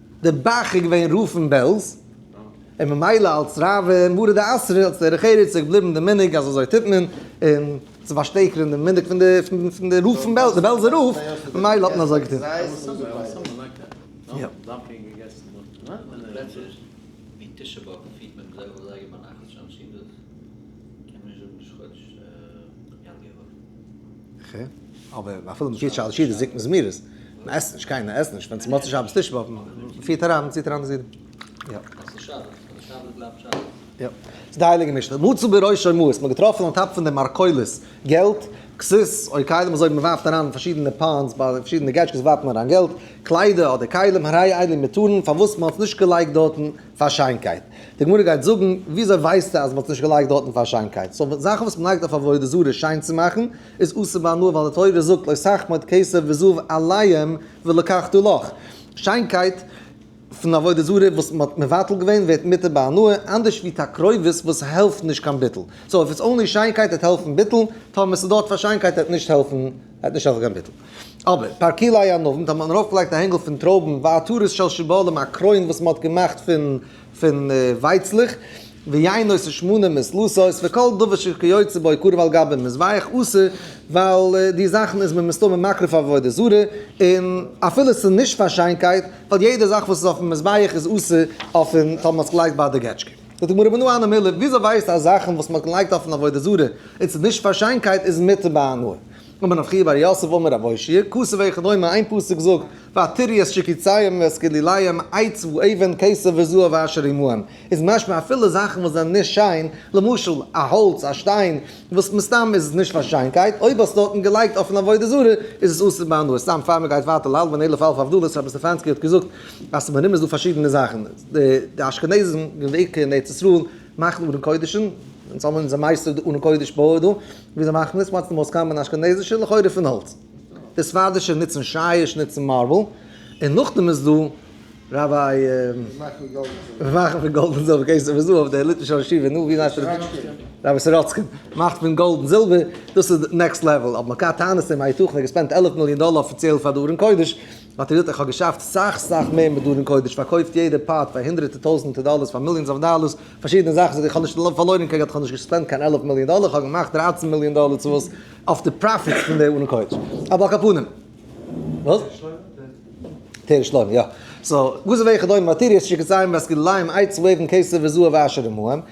די באך איז געווען רב פון בעלז, און ממילא אלס רב און מרא דאתרא אלס דרך ארץ איז געבליבן די מנהג אז אזוי טוט מען, און צו פארשטערקערן די מנהג פון די רב פון בעלז, די בעלזער רב, ממילא האט מען אזוי געטון. ח, אבער אפילו מען פירט שאלעשי די זקן זמירות, מען עסט נישט, קיינער עסט נישט, ווען ס'מוצאי שבת טיש ווארפן, מען פירט אריין, מען ציט אריין די זידן. יא. וואס איז שבת? ווייל שבת בלייבט שבת. יא. ס'איז די הייליגע משנה. מצא בראשו מעות, מען האט געטראפן אן טאפ פון די מרכולות געלט, כסות, אוי כלים אזוי ווי מען ווארפט אריין אין פארשידענע פאנדס, ביי פארשידענע געטשקעס ווארפט מען אריין געלט, קליידער אדער כלים, הרי אלי מטורין, פארוואס מען האט עס נישט געלייגט דארטן, פאר שיינקייט. די גמרא גייט זאגן, וויאזוי ווייסטו אז מ'האט עס נישט געלייגט דארטן פאר שיינקייט? סאו זאכן וואס מ'לייגט אויף עבודה זרה שיין צו מאכן, איז אסור ביי הנאה, ווייל די תורה זאגט לא תחמוד כסף וזהב עליהם ולקחתו לך. שיינקייט פון עבודה זרה וואס מ'האט מבטל געווען ווערט מותר ביי הנאה, אנדערש ווי תקרובת וואס העלפט נישט קיין ביטול. סאו איף איטס אנלי שיינקייט עט העלפן ביטול, טאמער ס'איז דארט פאר שיינקייט עט נישט העלפן. ער האט נישט אזא קיין ביטול. אבער פאר כלאי א נאוונט האט מען ארויפגעלייגט א הענגל פון טרויבן ועטרת של שיבולים א קרוין וואס מען האט געמאכט פון ווייצלעך, ויינות און שמנים און סלוסות, וכל דבר שכיוצא בו עיקור ועל גביו מזבח עשה, ווייל די זאכן איז מען מסתמא מקריב פאר עבודה זרה, און אפילו ס'איז נישט פאר שיינקייט, ווייל יעדע זאך וואס איז אויפן מזבח איז עשה אויפן, טאמער מען האט עס געלייגט ביי די געטשקע. זאגט די גמרא בנו אנה מילי, וויאזוי ווייסט איר אז זאכן וואס מ'האט געלייגט אויפן עבודה זרה און ס'איז נישט פאר שיינקייט איז מותר בהנאה? אמר רב חייא בר יוסף אמר רב אושי', כסא וכדומה איין פסוק זאגט ועתריות שקיציים ועסקליליים עץ ואבן כסא וזהב ואשר עמהם איז משמע אפילו זאכן וואס זענען נישט שיין, למשל א האלץ א שטיין וואס מסתם איז עס נישט פאר שיינקייט, אויב האסטו אויף דעם געלייגט אויפן עבודה זרה איז עס אסור בהנאה, סתם פאר מ'גייט ווייטער להלוואן אלף אלף הבדלות רבי סטעפאנסקי האט געזאגט אז ס'איז מרומז דא פארשידענע זאכן, די אשכנזים געוועקע אין ארץ ישראל מאכן ארון קודש'ן, אונז האבן אונזער מייסטער די ארון קודש בויער דא, ווי זיי מאכן עס, מצ ד מויז קאמבען אשכנזישע, לכאורה פון האלץ. די ספרדישע נוצן שיש נוצן מארבל, און נאכדעם איז דא ראביי וואס מאכן פון גאלד און זילבער, קענסט זיך אויס אויף די ליטווישע ישיבה, נו ווי נאר ס'איז ראביי סוראצקין מאכט פון גאלד און זילבער, דאס איז נעקסט לעוועל, אבער מ'קען טענות און מה יתכן ער האט געספענדט עלף מיליאן דאלער אפיציעל פאר די ארון קודש. מאטעריאל איך האב געשאפט סאך סאך מער מיט דארן קודש פארקויפט יעדע פארט פאר הונדרעטע טויזענטע דאללערס פאר מיליאנס אוו דאללערס פארשידענע זאכן זאג איך כ'האב נישט פארלוירן קיין געלט כ'האב נישט געספענדט קיין עלף מיליאן דאללער כ'האב געמאכט דרײַצן מיליאן דאללער צו וואס אויף די פראפיטס פון די ארון קודש אבער על כל פנים וואס? תראה שלמה יא סאו וואס איז וועכע דאו מאטעריאלס שיקעסיים וועסקילליים אייץ וועבן כסף וזהב ואשור ומועם.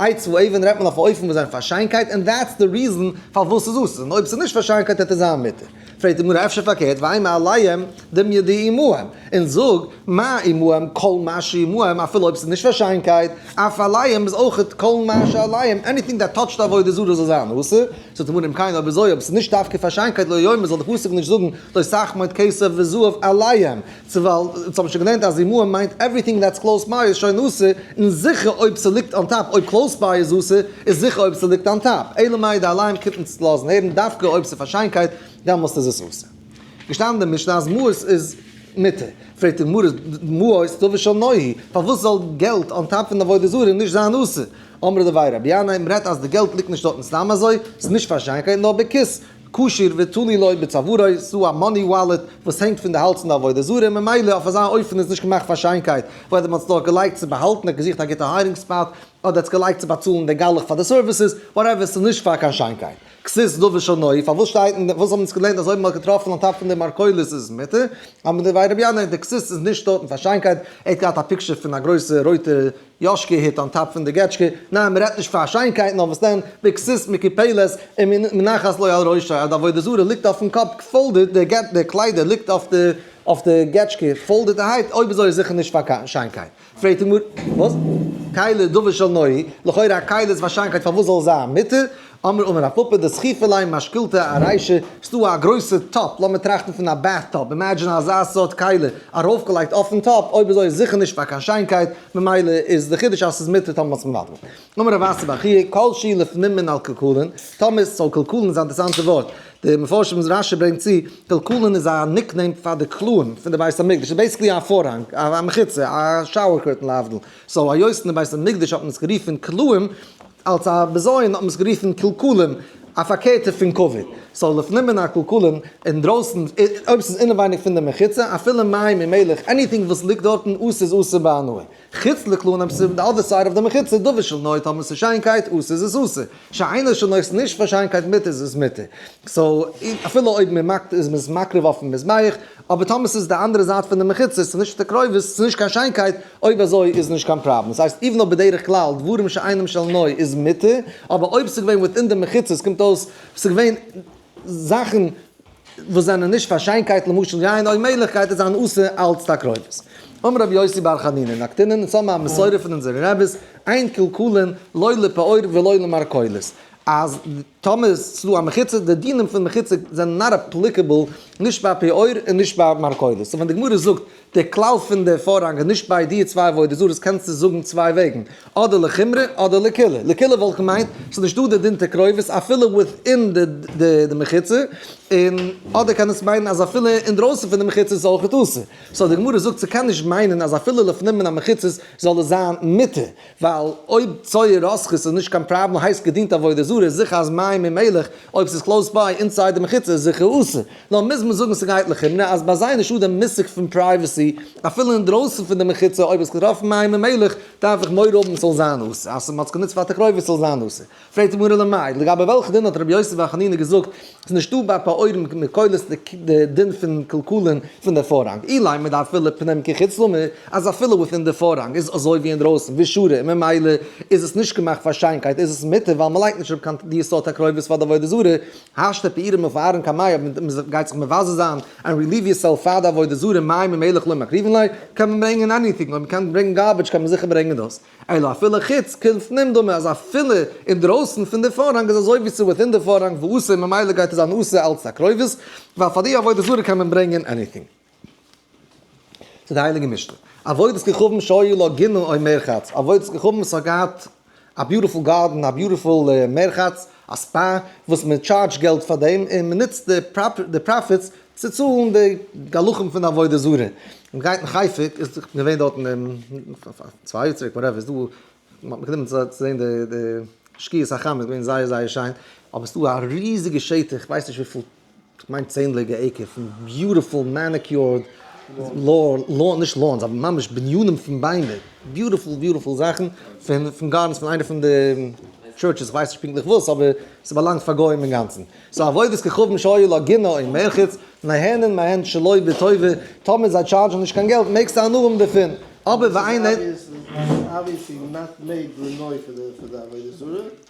איי צו אויבן רעדט מען אויף א אופן וואס זיין פאר שיינקייט און דעטס די ריזן פארוואס ס'איז אסור און אויב ס'איז נישט פאר שיינקייט העט ער זיין מותר. פרעגט די גמרא אפשר פארקערט ואימה עליהם דמיה די עמהם און זאג מה עמהם כל מה שעמהם אפילו אויב ס'איז נישט פאר שיינקייט אף עליהם איז אויכעט כל מה שעליהם עניטינג דעט טאטשט עבודה זרה זאל זיין אסור. זאגט די גמרא אם כן אויב אזוי אויב ס'איז נישט דווקא פאר שיינקייט לא יאמר זאל די פסוק נישט זאגן לא סכמות כסף וזהב עליהם צו ווייל אונז האבן שוין געלערנט אז הימור מיינט עווריטינג דעטס קלאוס ביי איז שוין אסור, און זיכער אויב ס'ליגט אן טאפ, אויב קלאוס ביי איז אסור, איז זיכער אויב ס'ליגט אן טאפ. אלא מאי די אלארם קומט אונז צו לאזן הערן דווקא אויב ס'איז פאר שיינקייט, דעמאלסט איז עס אסור. געשטאנען אין די משנה אז מעות איז מותר. פרעגט די גמרא, מעות דבר שנוהי, פארוואס זאל געלט אן טאפ פון עבודה זרה נישט זיין אסור? אמר דברי רבי ינאי, מ'רעדט אז די געלט ליגט נישט דארטן סתם אזוי, ס'איז נישט פאר שיינקייט נאר בכוס, קשור ותלוי לו בצווארו, ס'דא א מאני וואלעט וואס הענגט פון די האלז פון די עבודה זרה, ממילא אויף אזא אופן איז נישט געמאכט פאר שיינקייט, וועלכע מ'האט עס דארט געלייגט צו באהאלטן, ער האט געזוכט א גוטע היידינג ספאט, אדער עטס געלייגט צו באצאלן די גלח פאר די סערוויסעס, וואטעווער, ס'איז נישט פאר קיין שיינקייט. כסיס דובר שנאי, פארוואס שטייט אין די, וואס האבן אונז געלערנט אז אויב מ'האט געטראפן אן טאפ פון די מרכולת איז עס מותר, אמר דברי רבי ינאי, די כסיס איז נישט דארטן פאר שיינקייט, ער האט געהאט א פיקטשער פון א גרויסע רויטע יאשקע היט אן טאפ פון די געטשקע, ניין מען רעדט נישט פאר שיינקייטן נאר וואס דען, ביקסעס מיט קיפעלעס, און מנחת לוי על ראשי, אז די עבודה זרה ליגט אויפן קאפ, פאלדעד, די קליידער ליגט אויף די געטשקע, פאלדעדערהייט, אויב אזוי איז זיכער נישט פאר שיינקייט, פרעגט די גמרא, וואס? כלה דבר של נאה, לכאורה א כלה איז פאר שיינקייט פארוואס זאל עס זיין מותר? אמר אמר א פאפא דסחיפא ליה משקילתא א ריישא, ס'דא א גרויסע טאפ, לאמיר טראכטן פון א בעט טאפ, אימעדזשין אזא סארט כלי ארויפגעלייגט אויפן טאפ, אויב אזוי איז זיכער נישט פאר קיין שיינקייט, ממילא איז די חידוש אז ס'איז מותר טאמער מ'האט'ס מבטל. אמר רב אסי בר חייא, כל שהיא לפנים מן על קלקולין, טאמער ס'זאל קלקולין איז א אינטערעסאנטע ווארט, די מפרשים רש י ברענגט צו, קלקולין איז א ניקנעים פאר די קלעים פון די בית המקדש, ס'איז בעיסיקלי א פארהאנג, א מחיצה, א שאוער קורטען להבדיל, סאו היות אין די בית המקדש האט מען עס גערופען קלעים, אלס א בזיון האט מען עס גערופן קלקולים, א פארקערטע פון כבוד. סאו לפנים מן הקלקולים, אינדרויסן, אויב ס'איז אינעווייניג פון די מחיצה, אפילו מים און מילך, עניטינג וואס ליגט דארטן, אסור איז אסור בהנאה. חוץ לקלון אויב ס'איז די אדער סייד אוו די מחיצה, דבר של נאה, טאמער ס'איז שיינקייט, אסור איז עס אסור. שאינו של נאה, ס'איז נישט פאר שיינקייט, מותר איז עס מותר. סאו, אפילו אויב מ'מאכט, איז מען עס מקריב אויפן מזבח, אבער טאמער ס'איז די אנדערע זייט פון די מחיצות, ס'איז נישט די קרובות, ס'איז נישט קיין שיינקייט, אויב אזוי איז נישט קיין פראבלעם. ס'הייסט איווען נאר בדרך כלל דברים שאינם של נוי איז מותר, אבער אויב ס'איז געווען וויטין די מחיצות קומט אויס ס'איז געווען זאכן וואס זענען נישט פאר שיינקייט למשל יין אויב מעגליכקייט איז אן עשה אלץ די קרובות. אמר רבי יוסי בר חנינא נקטינן אונז האבן א מסורה פון אונזערע רביס אין קלקולין לא לפעור ולא למרכולת אז טאמער איז צו א מחיצה, די דינים פון מחיצה זענען נאר אפליקעבל נישט ביי פיאות און נישט ביי מרכולות. סאו ווען די גמרא זאגט די כלל פון די פארהאנג איז נישט ביי דיע צוויי עבודה זרה'ס קענסטו זאגן צוויי וועגן, אדער לחומרא אדער לקולא. לקולא וואלט געמיינט ס'איז נישט דא די דין ת קרובות אפילו וויטין די מחיצה, און אדער קען עס מיינען אז אפילו אינדרויסן פון די מחיצה איז אויכעט אסור. סאו די גמרא זאגט ס'קען נישט מיינען אז אפילו לפנים מן המחיצות זאל עס זיין מותר. ווייל אויב צויי רסכות איז נישט קיין פראבלעם הייסט געדינט עבודה זרה איז זיכער אז מים און מילך אויב ס'איז קלאוס ביי אינסייד די מחיצה איז זיכער אסור. נאר מוז מען זאגן ס'גייט לכאורה נאר אז ביי זיי איז נישטא די מושג פון פרייוועסי אפילו אינדרויסן פון די מחיצה אויב האסט געטראפן מים און מילך דארף איך מורא האבן ס'זאל זיין אסור אז מ'האט עס גענוצט פאר תקרובת ס'זאל זיין אסור. פרעגט די גמרא למאי, לגבי וועלכע דין האט ר' יוסף בר חנינא געזאגט אז ס'איז נישטא ביי פועלים מקולות די דין פון קלקל'ן פון די פארהאנג, אי לימד דאפילו פנים כחוץ למה אז אפילו וויטין די פארהאנג איז אזוי ווי אינדרויסן ווי שורה און ממילא איז עס נישט געמאכט פאר שיינקייט איז עס מותר ווייל מ'לייגט נישט אראפ קיין די סארט הקרבות פאר די עבודה זרה, השתא פעירא מפארן קיין מים אויב מ'גייט זיך מבזה זיין ענד רעליוו יור סעלף פאר די עבודה זרה מים ומלח לא מקריבין ליה קען מען ברענגען עניטינג אויב מ'קען ברענגען גארביטש קען מען זיכער ברענגען דאס. אלא אפילו חוץ קונץ נמדמה אז אפילו אינדרויסן פון די פארהאנג איז אזוי ווי ס'איז וויטין די פארהאנג וואו אסור ממילא גייט עס זיין אסור אלץ א קרובות ווייל פאר די עבודה זרה קען מען ברענגען עניטינג. צו די הייליגע משנה עבודת כוכבים שהיה לה גינה אוי מרחץ עבודת כוכבים עס האט געהאט א ביוטיפול גארדען א ביוטיפול מרחץ א ספא וואס מען טשארדזש געלט פאר דעם און מען נוצט די פראפיטס צו צאלן די גלחים פון עבודה זרה און גייט אין חיפה איז געווען דארט צוויי יאר צוריק וואטעווער איז דא מען האט מיך גענומען צו זעהן די שקיעת החמה איז געווען זייער זייער שיין אבער ס'דא א ריזיגע שטח כ'ווייס נישט וויפיל כ'מיין צענדליגע עיקער פון ביוטיפול מעניקיורד לאון, נישט לאונס אבער ממש בנינים פון ביימער, ביוטיפול ביוטיפול זאכן פון פון גארדענס פון איינע פון די טשורטשעס, כ'ווייס נישט פונקטליך וואס אבער ס'באלאנגט פאר גוים אינגאנצן. סאו עבודת כוכבים שהיו לה גינה און מערכת, נהנין מהן שלא בטובה, טאמער זיי טשארדזשן נישט קיין געלט מעגסטו הנאה האבן דערפון, אבער ווען איינער.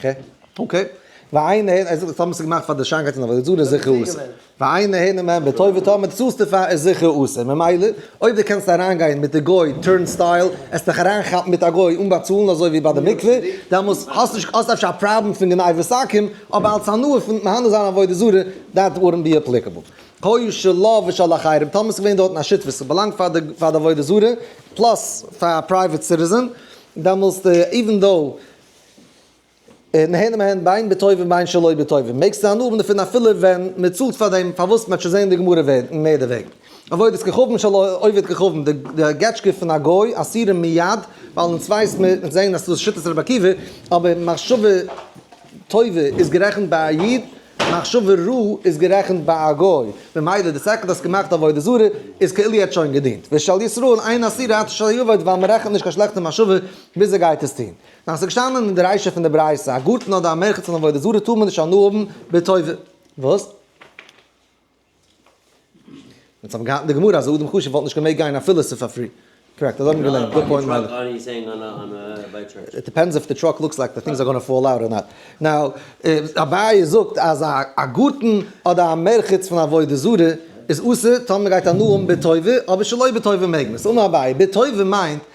ח. אקעי. ועיין הן, ער זאגט טאמער עס איז געמאכט פאר די שיינקייט און עבודה זרה איז זיכער אסור. ועיין הן אם אין בעתו וטאמער צאלסט דערפאר איז זיכער אסור. ממילא, אויב דו קענסט אריינגיין מיט די גוי טורנסטייל, עסט דיך אריינכאפן מיט א גוי אן באצאלן אזוי ווי ביי די מקווה, דעמאלס האסט נישט האסט אפשר א פראבלעם פון גניבת סכין, אבער אלס הנאה פון מהנה זיין עבודה זרה, דעט וואודנט בי אפליקעבל. היו שלו ושל אחרים, טאמער עס איז געווען דארטן א שותפות, עס באלאנגט פאר די פאר די עבודה זרה, פלאס פאר א פרייוועט סיטיזען, דעמאלסט איווען דאו. נהנה מהן בין בטוב ובין שלא בטוב, מעגסט זיין נהנה דערפון אפילו ווען מען צאלט פאר דעם, פארוואס? מען האט שוין זעהן די גמרא וועגן מער דערוועגן, עבודת כוכבים שלא עובד כוכבים, די געטשקע פון א גוי אסירים מיד, ווייל אונז ווייס מיר, אונז זעהן אז דאס איז שיטת רבי עקיבא, אבער מחשבה טובה איז גערעכנט ביי א איד, מחשבה רעה איז גערעכנט ביי א גוי, ממילא די סעקונדע האסט געמאכט עבודה זרה איז כאילו יעצט שוין געדינט, ושאל ישראל איין אסירה עד אשר יאבד ווייל מען רעכנט נישט קיין שלעכטע מחשבה ביז ער גייט עס טון. נאר עס איז געשטאנען אין די רישא פון די ברייתא, א גארטן אדער א מרחץ אן עבודה זרה טאר מען נישט הנאה האבן בטוב. וואס? ווען זיי האבן געהאלטן די גמרא אז א אדם חשוב וואלט נישט געמעגט גיין אפילו ס'איז פאר פרי. קארעקט, אזוי האבן מיר געלערנט. גוד פוינט מיילעך. איט דיפענדס איף די טראק לוקס לייק די טינגס אר גאנא פאל אוט אר נאט. נאו, אביי זאגט אז א גארטן אדער א מרחץ פון עבודה זרה איז אסור טאר מען גייט הנאה האבן בטוב, אבער שלא בטוב מעג מען. סא אמר אביי, בטוב מיינט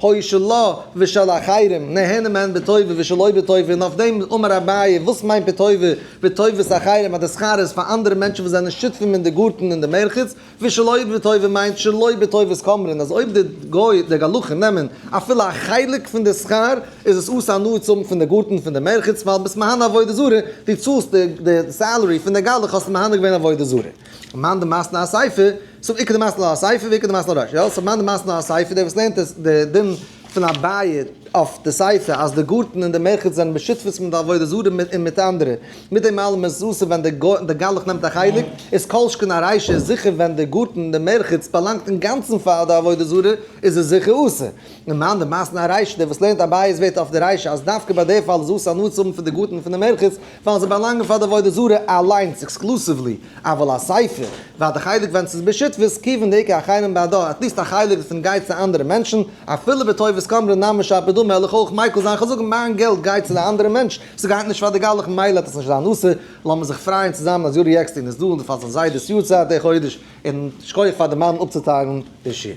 הוי שלא ושל אחרים נהנה מהן בטובה ושלא בטובה און אויף דעם אמר אביי וואס מיינט בטובה? בטובת אחרים אז די שכר איז פאר אנדערע מענטשן וואס זענען שותפים אין די גארטן און די מרחץ ושלא בטובה מיינט שלא בטובת כמרן אז אויב די גוי די גלחים נעמען אפילו א חלק פון די שכר איז עס עושה הנאה צו האבן פון די גארטן און פון די מרחץ ווייל ביסט מהנה עבודה זרה דו צאלסט די סעלערי פון די גלח האסטו מהנה געווען עבודה זרה. מאן דמסתנא על סייפא, סוב עיקר דמסתנא על סייפא ועיקר דמסתנא על רישא, יא, סאו מאן דמסתנא על סייפא, דער וואס לערנט עס די דין פון א בית אויף די סייפא אז די גארטן און די מרחץ זענען בשותפות מיט די עבודה זרה און מיט אנדערע, מיט דעם אלעם איז אסור ווען די גלח נעמט א חלק, איז כל שכן א רישא איז זיכער ווען די גארטן און די מרחץ באלאנגט אינגאנצן פאר די עבודה זרה איז עס זיכער אסור, און מאן דמסתנא על רישא, דער וואס לערנט א בית ווערט אויף די רישא אז דווקא ביי די פאל איז אסור הנאה צו האבן פון די גארטן און פון די מרחץ, ווייל זיי באלאנגען פאר די עבודה זרה אליינס עקסקלוסיוולי, אבל הספר, ועד די חלק ווען ס'איז בשותפות כיוון דעיקר אחרים בעדה, עטליסט א חלק דערפון גייט צו אנדערע מענטשן, אפילו בטובת כמרא נמי שאפ בדו מלך אויך מייקל זיין כזאג מיין געלט גייט צו די אנדערע מענטש, ס'גייט נישט פאר די גלח מילא העט עס נישט זיין אסור, לאמיר זיך פרייען צוזאמען אז יורי עקסטין איז דא און פאר זיין זיידע'ס יארצייט די חודש, און שכוח פאר די מאמע אפצוטיילן די שעיר.